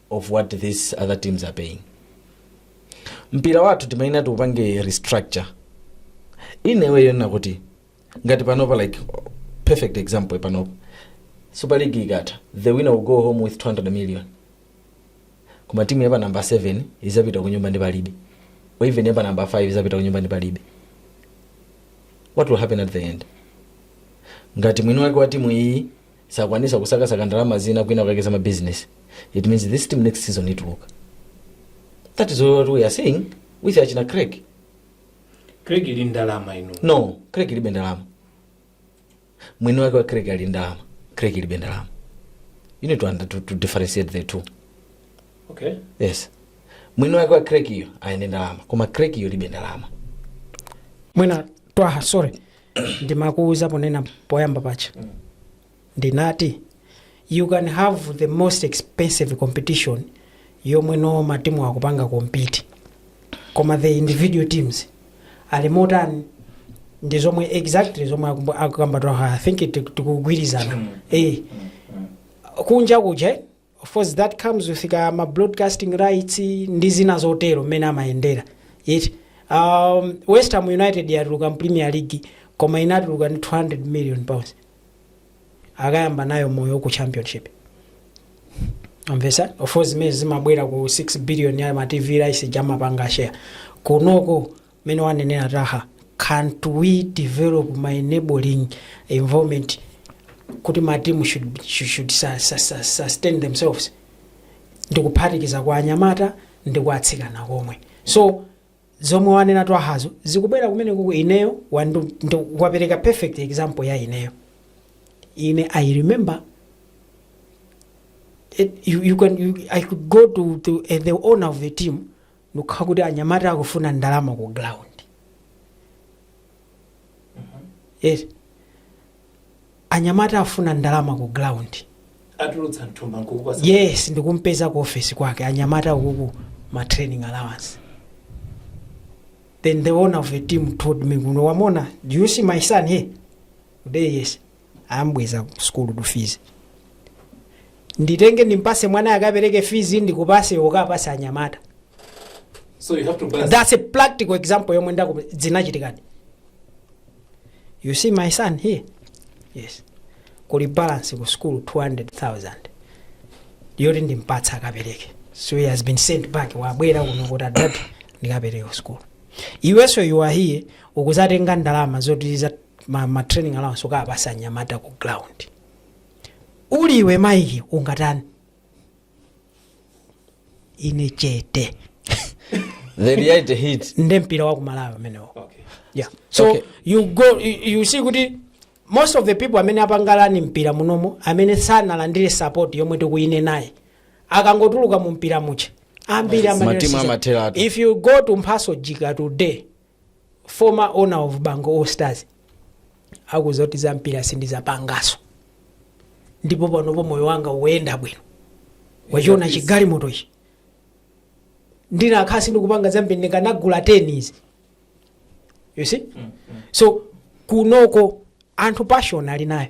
of what these other teams are paying mpira wathu timayenera tiupange restructure in a way yonena kuti ngati panopa like perfect example panopa super league ikatha the winner will go home with 200 million koma timu yapa namba 7 izapita kunyumba ndi palibe or even yapa namba 5 izapita kunyumba ndi palibe what will happen at the end ngati mwini wake wa timu iyi sakwanisa kusakasaka ndalama zina kwina kwake za mabusiness it means this team next season ituluka that is what we are saying with achina craig craig ili ndi ndalama ino no craig ilibe ndalama mwini wake wa craig ali ndi ndalama craig ilibe ndalama you need to, under, to, to differentiate the two okay yes mwini wake wa craig iyo ali ndi ndalama koma craig iyo ilibe ndalama mwina twaha sorry ndimakuuza ponena poyamba paja ndinati you can have the most expensive competition yomwe no matimu akupanga compete koma the individual teams ali motani ndi zomwe exactly zomwe akumbu- akukamba twaha i think ti- tikugwirizana eh kunja kuje Of course that comes with ka ma broadcasting rights ndi zina zotero mmene amayendera eti um, West Ham United yatuluka mu Premier League koma inatuluka ndi 200 million pounds akayamba nayo moyo ku championship amvesa of course zimene zimabwera ku 6 billion ya ma TV rights ija amapanga share kunoko mmene wanenera Twaha, cant we develop an enabling environment kuti ma team should should sustain themselves ndikuphatikiza kwa anyamata ndi kwa atsikana komwe so zomwe wanena twahazo zikubwera kumene kuku ineyo wapereka perfect example ya ineyo ine i remember it, you, you can, you, i could go to, to uh, the owner of the team ndikukati anyamata akufuna ndalama ku ground yes anyamata afuna ndalama ku ground atulutsa mthumba nkukupatsa yes ndikumpeza ku office kwake anyamata akufuna ma training allowance then the owner of the team told me kuti waona do you see my son here today yes ambweza ku sukulu due to fees nditenge ndimpase mwana akapereke fees ndikupase ukapase anyamata So you have to balance. that's a practical example yomwe ndakuuza zinachitikadi you see my son here yes kuli balance ku school 200000 yoti ndimpatse akapereke so he has been sent back wabwera kuno kuti adad ndikapereke ku school iwenso you are here ukuzatenga ndalama zoti za ma, ma training allowance ukapase anyamata ku ground uli iwe Mike ungatani ine chete the reality hit nde mpira wa kumalawi umenewo okay. yeah. so Okay. you go you, you see kuti most of the people amene apangalani mpira munomo amene sanalandire support yomwe ikuyenera nawo akangotuluka mu mpira muja ambiri amatheratu. if you go to Mphatso Jika today Former owner of Bangwe All Stars akuuza kuti za mpira sindizapangaso ndipo panopo moyo wanga ukuyenda bwino wachiona chigalimoto ichi ndikanakhala sindikupanga za mpira ndikanagula 10 izi you see so kunoko anthu passion ali nayo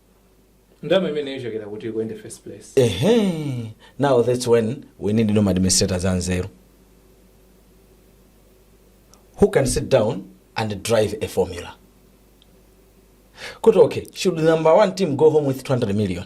ndalama imeneyo ichokera kuti kuende first place ehe now that's when we need no administrators anzeru who can sit down and drive a formula kuti okay should number one team go home with 200 million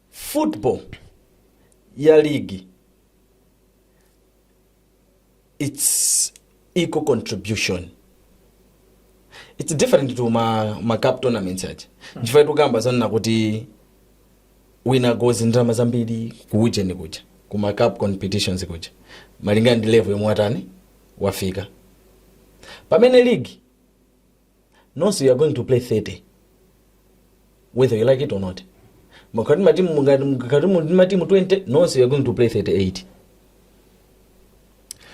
Football ya league it's equal contribution it's different to ma, ma cup tournaments aja nchifukwa tikukamba zonena kuti winner goes ndalama zambiri kuujeni kuja ku ma cup competitions kuja malingana ndi level yomwe watani wafika pamene league nonse you are going to play 30 whether you like it or not mukati matimu 20 nonse you are going to play 38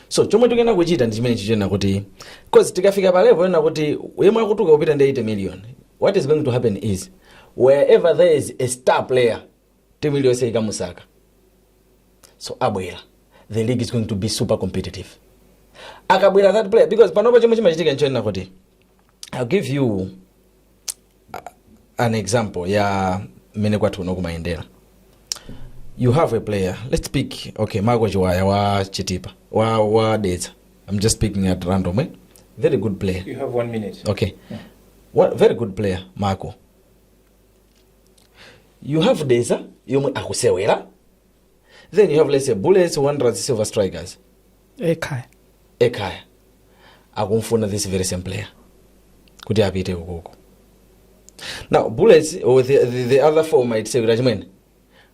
so chomwe tikuyenera kuchita ndi chimenechi chonena kuti cause tikafika pa level yonena kuti yemwe akutuluka akupita ndi 80 million what is going to happen is wherever there is a star player team iliyonse ikamusaka so abwera the league is going to be super competitive akabwera that player because panopa chomwe chimachitika nchonena kuti i'll give you an example ya mmene kwathu uno kumayendera you have a player let's pick okay marco chiwaya wa chitipa wa, wa dedza i'm just picking at random eh? very good player You have one minute. okay What, very good player marco you have deza yomwe akusewera then you have let's say bullets wanderers silver strikers ekhaya ekhaya akumfuna this very same player kuti apite ukoko now bullets or the, the, the other four might say kuti achimwene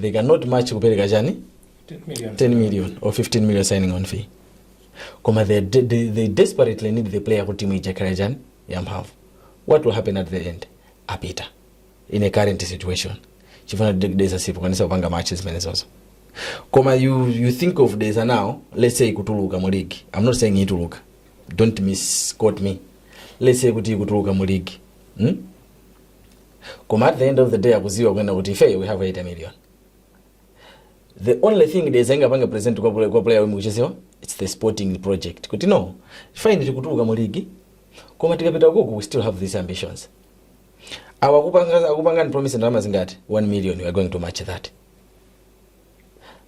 they cannot match kupereka chani 10 million or 15 million signing on fee koma they, de- they, they desperately need the player kuti muijakira chani yamphamvu what will happen at the end apita in a current situation chifuna desa sipokwanisa kupanga match zimene zozo koma you, you think of desa now let's say ikutuluka mu league i'm not saying ituluka don't misquote me let's say kuti ikutuluka mu league hmm? koma at the end of the day akuziwa kunena kuti ifeyo we have 80 million the only thing Dedza ingapange present kwa player omwe akuchezawa its the sporting project kuti no fine tikutuluka mu ligi koma tikapita ukoko we still have these ambitions awa akupangani promise ndalama zingati 1 million we are going to match that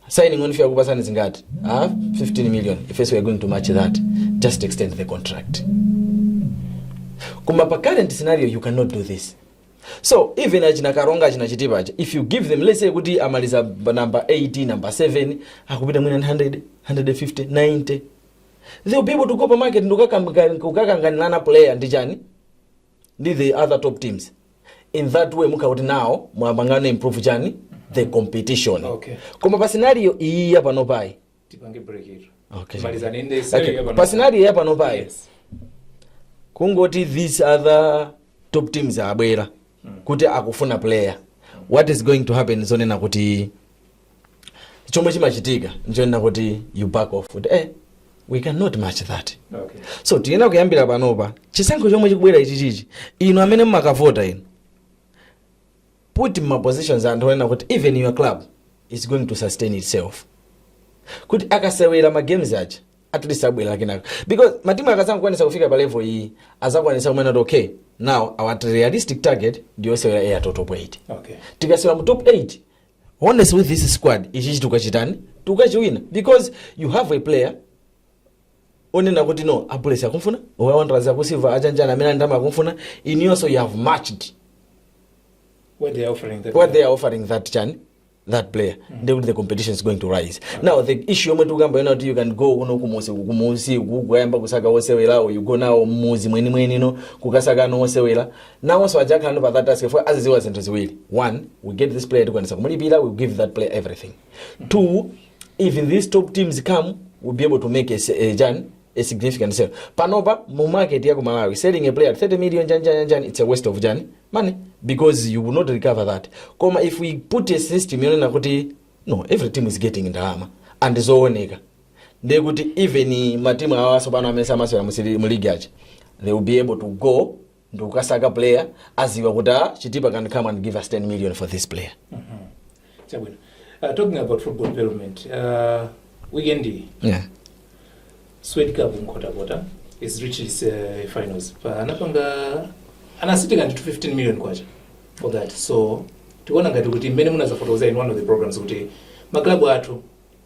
signing on fee akupasani zingati ah 15 million ifeso we're going to match that just extend the contract koma pa current scenario you cannot do this so even achina karonga achina chitipa aja if you give them let's say kuti amaliza b- number 8 number 7 akupita mwina 100 150 90 they'll be able to go pa market ndikukakanganirana player ndani ndi the other top teams in that way mukhala kuti nawo mwapanganso improve chani the competition Okay. koma pa scenario iyi yapano payi tipange break it Okay. malizani ndi Okay. scenario pa scenario yapano payi yes kungoti these other top teams abwera kuti akufuna player what is going to happen zonena kuti chomwe chimachitika nchonena kuti you back off kuti eh we cannot match that Okay. so tiyenera kuyambira panopa chisankho chomwe chikubwera ichi chichi inu amene mumakavota inu put in mapositions anthu onena kuti even your club is going to sustain itself kuti akasewera magames aja at least abwera kenakake because matimu akazangokwanisa kufika pa level iyi azakwanisa kumanena kuti okay now our realistic target ndiyosewera Airtel top 8 Okay. tikasewera mu top 8 honestly with this squad ichichi chikho tikachitani tikachiwina because you have a player onena kuti no a Bullets akumfuna a Wanderers aku Silver achani chani amene ali ndi ndalama akumfuna inuyonso you have matched What they are offering. That what they are offering that chani that player then the competition is going to rise now the issue yomwe tikukamba yonena kuti you can go kuno kumusi kumusi kukayamba kusaka osewera or you go now mmudzi mwenimwenimo kukasakano osewera Nawonso aja akhalano pa that task chifukwa aziziwa zinthu ziwiri. One, we get this player tikwanisa kumulipira, we give that player everything. Two, if these top teams come, we'll be able to make a, s- a, chani- a significant sale. Panopa mu market ya ku Malawi, selling a player at 30 million chani chani chani it's a waste of chani money because you will not recover that. Koma if we put a system yonena kuti no, every team is getting ndalama zooneka ndiye kuti even matimu awa nso bwana amene samasewera mu Super- mu ligi aja they will be able to go ndikukasaka player aziwa kuti ah, chitipa can come and give us 10 million for this player Chabwino. Uh, talking about football development, uh, weekend iyi, yeah. Swedi Cup mu Nkhotakota has reached its uh, finals. Pa anapanga anasitika ndi 15 million kwacha for that. So tikuona ngati kuti mmene munazafotokoza in one of the programs kuti maklabu athu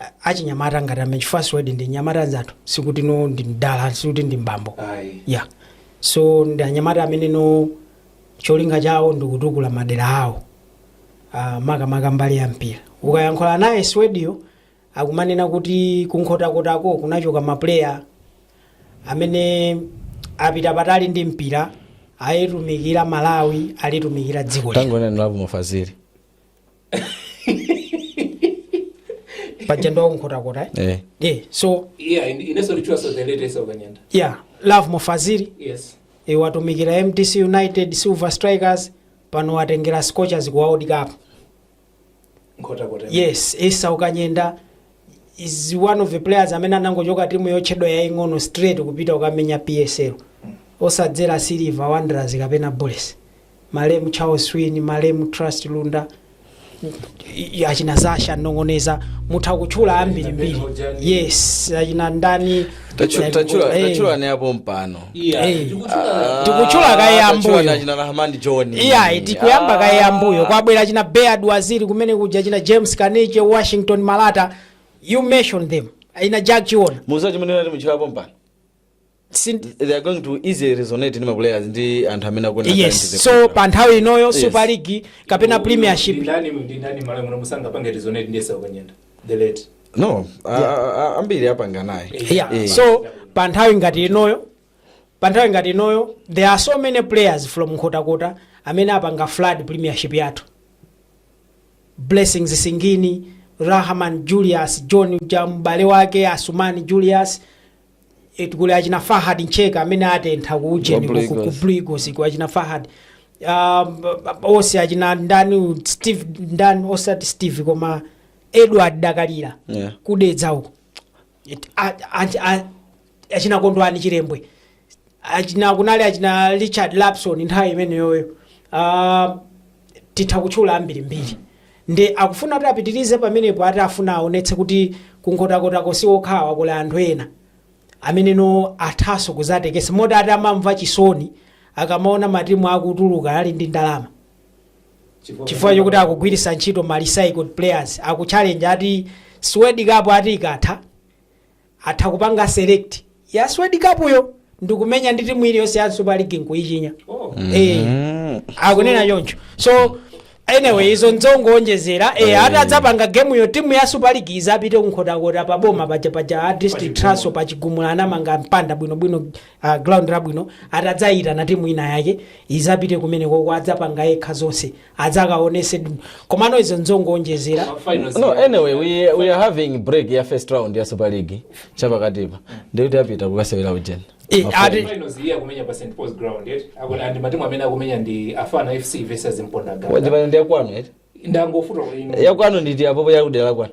a- achinyamata ngati amene chifukwa Swedi ndi mnyamata mnzathu sikuti no ndi mdala sikuti ndi mbambo Ayi. ya so ndi anyamata amene no cholinga chawo ndi kutukula madera awo uh, makamaka mbali ya mpira ukayankhula naye swediyo akumanena kuti kunkhotakotako kunachoka mapuleya amene apita patali ndi mpira ayitumikira Malawi alitumikira dziko lino tangonena Lovemore Fazili paja ndo wakunkhotakota eh? eh. yeah. so yeah, in, in yeah. love mofaziri yes. e, watumikira mtc united silver strikers pano watengera scorchers ku world cup yes esau kanyenda is one of the players amene anangochoka timu yotchedwa yaing'ono straight kupita kukamenya psl osadzera silver wanderers kapena bullets malemu charles swini malemu trust lunda i- achina zasha manongi onsewa mutha kutchula ambirimbiri yes achina ndani Tachu- tachula Eh. tachula ne apo mpano iya Eh. ndikuchula Tikuchula kaye Ah, ambuyo. tachula nachina Rahman John iyayi tikuyamba kaye ambuyo kwabwera achina beard waziri kumene kuja achina james kanike washington malata you mention them achina jack chiona muza chimene nati muchula apo mpano Sin- they are going to easily resonate ndi maplayers ndi anthu amene akona yes so pa nthawi inoyo Yes. super league kapena premiership ndani ndani malo amuno musanga pange resonate ndesa kwenyenda the late no a- a- a- ambiri apanga naye yeah. Eh. so pa nthawi ngati inoyo pa nthawi ngati inoyo there are so many players from nkhotakota amene apanga flood premiership yathu blessings singini rahman julius john ya m'bale wake asumani julius It kuli achina Fahad Ntcheka amene atentha ku ujeni Ku ku- ku- ku Brigos. Brigos ku achina Fahad um, onse achina ndani Steve ndani osati Steve koma Edward Dakalira Yeah. kudedza uko It- a- a- a- achina Kondwani Chilembwe achina kunali achina Richard Lapson nthawi imeneyoyo uh, titha kutchula ambirimbiri nde akufuna kuti apitirize pamenepo ati afuna aonetse kuti ku Nkhotakotako si okhawa kuli anthu ena ameneno athaso kuzatekesa moti ati amamva chisoni akamaona matimu akutuluka ali ndi ndalama chifukwa chokuti akugwiritsa ntchito ma recycled players akuchallenge ati Swed Cup ati ikatha atha kupanga select ya swed cup yo ndikumenya ndi timu iliyonse ya super league nkuyichinya eh akunena choncho so anyway izo nzongoonjezera eh ati adzapanga game yo timu ya super league izapite kunkhotakota pa boma paja paja a district centre pa chigumula anamanga mpanda bwino bwino uh, ground labwino ati adzayitana timu ina yake izapite kumenekoko adzapanga yekha zonse adzakaonesedi komano izo nzongoonjezera no anyway we, we are having break ya first round ya super league chapakatipa nditi apita kukasewera ujeni Eh, ati- finals iye akumenya pa st pauls ground eti akuti andi matimu amene akumenya ndi mafana fc versus mponda ganga wajipani ndiyakwanu eti ndangofunsa kuti yakwanu nditi apapa yakudera kwanu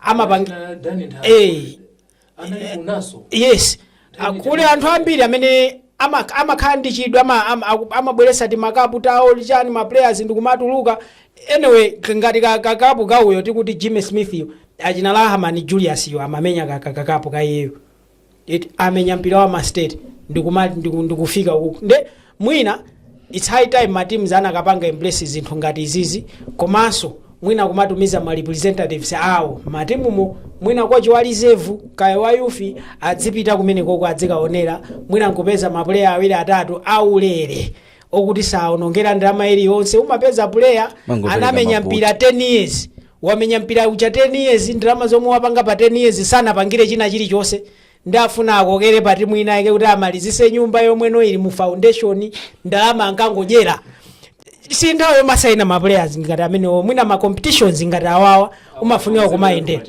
amapanga Ana Dani nthawi. Eh. Anali kunaso. yes Ah, kuli anthu ambiri amene ama- amakhala ndi chidwi ama- ama- aku- amabweresa ti makapu tawo m'machani ma players ndikumatuluka anyway k- ngati ka- kakapu kauyo tikuti jimmy smith yo achina Rahman julius yo amamenya ka- ka- kakapu kaiyeyo eti amenya mpira wa mastate ndikuma ndiku- ndikufika uku nde mwina its high time mateams anakapanga embrace zinthu ngati izizi komanso mwina kumatumiza ma representatives awo matimumo mwina kochi wa reserve kaya wa youth adzipita kumenekoko adzikaonera mwina nkupeza mapuleya awiri atatu aulere okuti saonongera ndalama iliyonse umapeza puleya Mangopereka anamenya mabuti. mpira 10 years Wamenya mpira uja 10 years ndalama zomwe wapanga pa 10 years sanapangire china chilichonse nde ufuna akokere pa timu ina yake kuti amalizise nyumba yomweno ili mu foundation ndalama ankangodyera si nthawi yomasaina ma players ngati amenewo mwina ma competitions ngati awawa umafunika kumayendera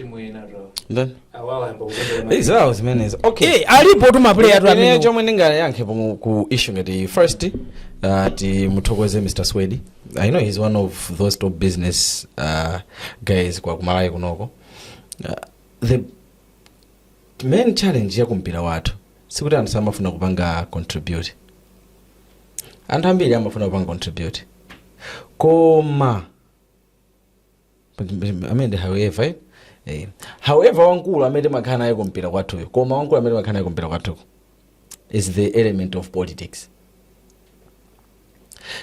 Ndani? Eh, zawo zimenezo okay Eh, alipo tu ma player tu Ine amenewo chomwe ndingayankhe pomwe ku issue ngati iyi. first uh, timuthokoze mr swedi I know he's one of those top business uh, guys kwa ku Malawi kunoko uh, the main challenge ya kumpira wathu sikuti anthu samafuna kupanga contribute anthu ambiri amafuna kupanga contribute koma and however eh? eh. however wankulu amene timakhala naye kumpira kwathuyo koma wankulu amene timakhala naye kumpira kwathuko is the element of politics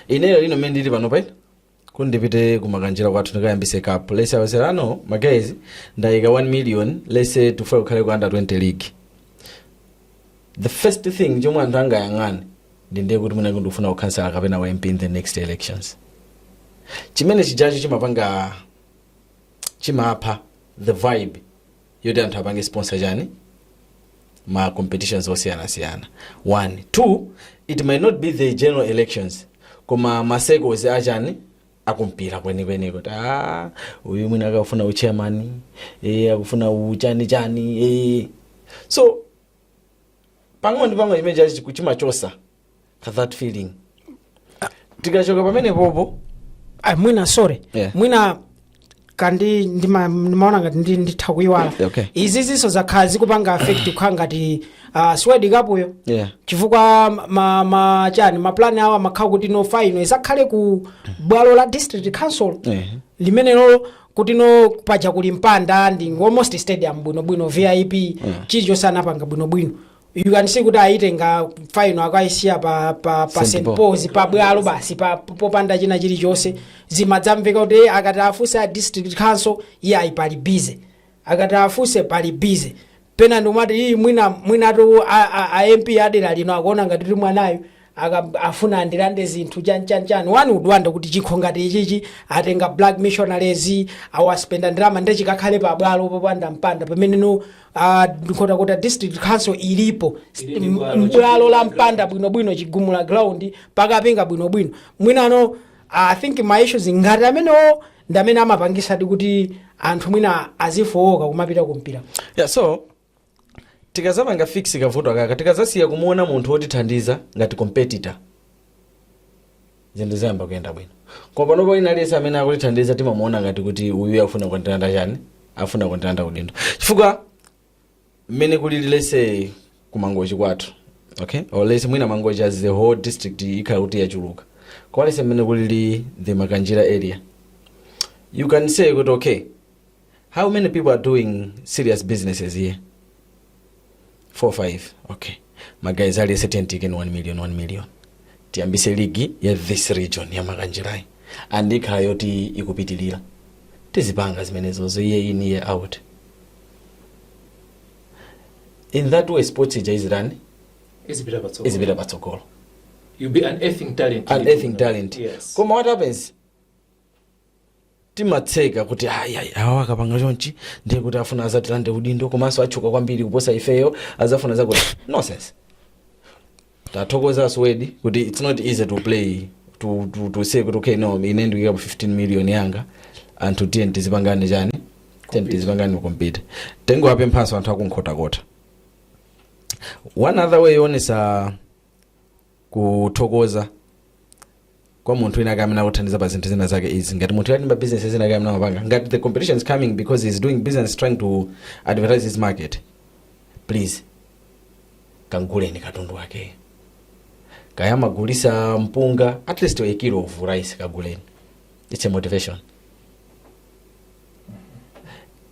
ineyo lino mmene ndili panopa kuti ndipite ku Makanjira kwathu ndikayambise cup let's say awerenge ano magazi ndayika 1 million let's say tifuna kukhale ku under 20 league the first thing chomwe anthu angayang'ane ndi ndiye kuti mwina ndikufuna ukhansala kapena u mp in the next elections chimene chijacho chimapanga chimapha the vibe yoti anthu apange sponsor chani ma competitions osiyanasiyana one two it might not be the general elections koma ma circles achani akumpira kwenikweni kuti "Ah, uyu mwina akufuna uchairman eh, akufuna uchani chani eh. so pang'ono ndi pang'ono chimenechi chiku- chimachosa ka that feeling tikachoka pamenepopo Ah, mwina sorry Yeah. mwina kandi ndima- ndimaona ngati ndi- nditha kuyiwala Okay. izizinso zakhala zikupanga affect kukhala ngati uh, swedi kapuyo Yeah. chifukwa ma, ma chani ma plan awo amakhala kuti no faino isakhale ku bwalo la district council Yeah. limenelo kuti no paja kuli mpanda ndi almost stadium bwinobwino vip chilichonse anapanga bwinobwino you can see kuti ayitenga faino akaisiya pa, pa, pa St. Paul's pa bwalo basi pa- popanda china chilichonse zimadzamveka kuti "Eh, akati afunse a district council iye ayi pali busy akati afunse pali busy pena ndikumati iyi mwina mwinatu a, a, a mp a dera lino akuona ngati kuti mwanayo aka afuna andilande zinthu chani chani chani wina udabwa kuti chikho ngati ichichi atenga black missionaries awaspendera ndalama nde chikakhale pa bwalo popanda mpanda pamene no uh, nkhotakota district council ilipo Ili ndi bwalo, mbwalo la mpanda bwinobwino chigumula ground pakapinga bwinobwino mwinano uh, i think ma issues ngati amenewo ndi amene amapangisadi kuti anthu mwina azifowoka kumapita kumpira yeah, so tikazapanga fix kavuto akaka tikazasiya kumuona munthu wotithandiza ngati competitor zinthu zayamba kuyenda bwino koma panopo wina aliyense amene akutithandiza timamuona ngati kuti uyu afuna kukandiranda chani afuna kukandiranda udindo chifukwa mmene kulili lese kumangochi kwathu okay or lese mwina mangochi as the whole district ikhala kuti yachuluka kwa lese mmene kulili the makanjira area you can say kuti okay how many people are doing serious businesses here 4 5 okay magayizi aliyese tiyeni tiike 1 million 1 million tiyambise ligi ya this region ya makanjirayi and ikhala yoti ikupitilira tizipanga zimenezozo year in year out in that way sports ija izirani izipita patsogolo izipita patsogolo you'll be unearthing talent unearthing talent yes koma what happens timatseka kuti ayi ayi awa akapanga chonchi ndiye kuti afuna azatilande udindo komanso atchuka kwambiri kuposa ifeyo azafuna zakuti nonsense tathokoza aswedi kuti it's not easy to play to, to, to say kuti okay no ine ndikuikapo 15 million yanga anthu tiye tizipangane chani tiye tizipangane compete tingowapemphanso anthu aku Nkhotakota one other way yoonesa kuthokoza kwa munthu wina ake amene akuthandiza pa zinthu zina zake izi ngati munthu ali ndi ma business ena ake amene amapanga ngati the competition is coming because he is doing business trying to advertise his market please kaguleni katundu wakeyo kaya amagulitsa mpunga at least a kilo of rice kaguleni it's a motivation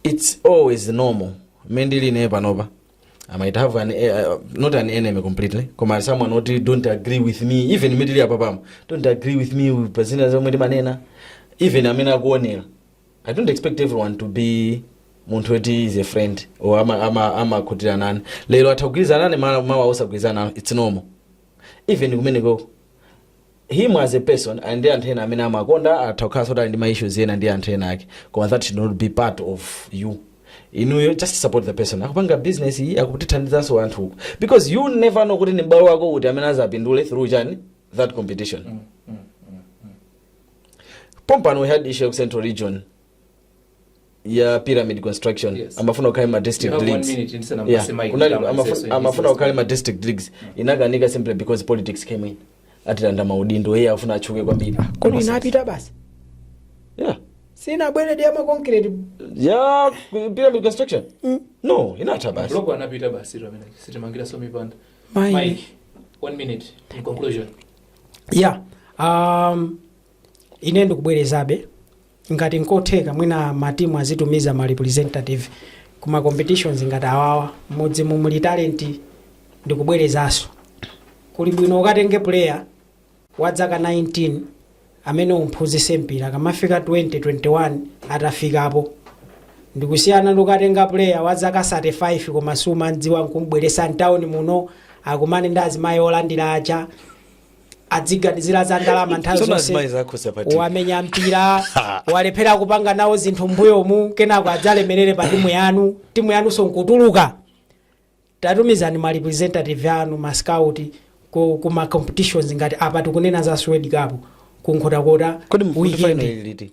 it's always normal mmene ndili naye panopa I might have an uh, not an enemy completely koma someone oti don't agree with me even mmene tili apapa mo don't agree with me pa zina zomwe ndimanena even amene akuonera i don't expect everyone to be munthu oti is a friend or amakhutira ama, ama amakhutira nane lero atha kugwirizana nane ma- mawa osagwirizana nane it's normal even kumeneko him as a person ali ndi anthu ena amene amakonda atha kukhalanso kuti ali ndi ma issues ena ndi anthu ena ake koma that should not be part of you inuyo just support the person akupanga business iyi akutithandizanso anthu uku because you never know kuti ndi m'bale wako uti amene azapindule through chani that competition pompano we had issue ya ku central region ya pyramid construction Yes. amafuna kukhale ma district You have one leagues minute ndisanapase Yeah. mic Kunali- kama amafu- mseso amafuna kukhale ma district leagues inakanika simply because politics came in atilanda maudindo iye afuna atchuke kwambiri kodi inapita basi yeah sinabwererenso ya makonkireti ya pyramid construction no inatha basi blogo anapita basi zamene sitimangira so mipanda Mai. mike one minute in conclusion ya um, ine ndikubwerezabe Ngati nkotheka mwina ma team azitumiza ma representative ku ma competitions ngati awawa. Mmudzimu muli talent ndikubwerezaso. Kuli bwino ukatenge player wa dzaka 19 amene umphunzise mpira kamafika 20, 21 atafikapo. Ndikusiyana ndi kukatenga player wa zaka 35 koma sumamdziwa nkumbweresa ntown muno akumane ndi azimayi olandira aja. adziganizira za ndalama nthawi zonse wamenya mpira walephera kupanga nawo zinthu mbuyomu kenako adzalemerere pa timu yanu timu yanunso nkutuluka tatumizani ma representative anu ma scout ku, ku ma competitions ngati apa tikunena za Swedi cup kunkhotakota kodi mukuti final ili liti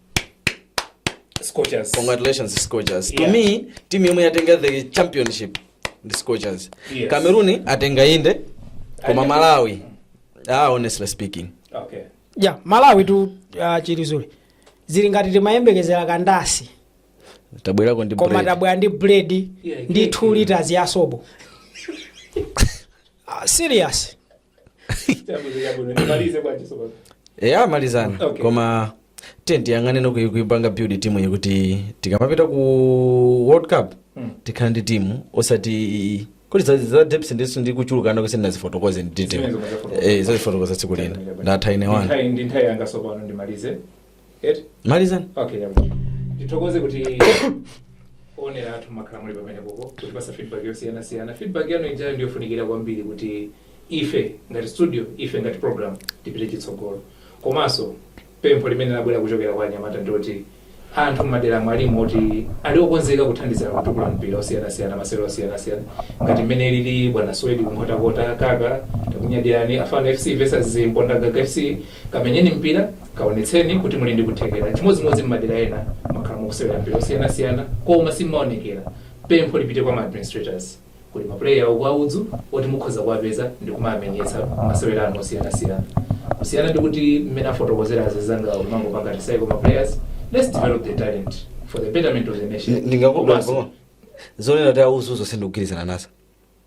Scorchers. congratulations scorchers to Yeah. me team yomwe yatenga the championship ndi scorchers Yes. cameroon atenga inde koma malawi ah honestly speaking Okay. ya malawi tu uh, chilizule zili ngati timayembekezera kandasi tabwerako ndi koma bread. tabwera ndi bread Yeah, ndi yeah, 2 liters ya sobo Ah, serious Chabwino, chabwino. Ndimalize kwa chiso baba. eya amalizani Okay. koma tiye tiyang'ane zokuyi kuipanga build timu iyi kuti tikamapita ku world cup Mm. tikhala ndi timu osati kuti za- za depth ndiso ndi kuchulukana kwake ndidzazifotokoze ndi detail Zimenezo mwazifotokoza. eh ndizazifotokoza tsiku lina ndatha ine wanga Ndinthawi- ndinthawi yanga sopano ndimalize Eti? malizani Okay, yabo. Ndithokoze kuti owonera athu mwakhala muli pamene popo kutipatsa feedback yosiyana siyana. Feedback yanu ijayo ndiyofunikira kwambiri kuti ife ngati studio, ife ngati program tipite chitsogolo. Komanso pempho limene labwera kuchokera kwa anyamata ndoti anthu mmadera mwathumu oti ali okonzeka kuthandizira kutukula mpira osiyana siyana masewero osiyana siyana ngati mmene alili bwana Swedi kunkhotakota kuja takunyadirani afana FC versus Mpondagaga FC kamenyeni mpira Kaonetseni kuti muli ndi kuthekera. Chimodzimodzi m'madera ena mwakhala mukusewera mpira osiyanasiyana koma simumaonekera. Pempho lipite kwa ma administrators. Kuli ma player uku a luso oti mukhoza kuwapeza ndi kumawamenyetsa mmasewera anu osiyanasiyana. Kusiyana ndi kuti mmene afotokozera anzangawa kumangopanga recycle ma players. Let's develop the talent for the betterment of the nation. Ndingagubapo zonena kuti auzazo sindikugwirizana nazo.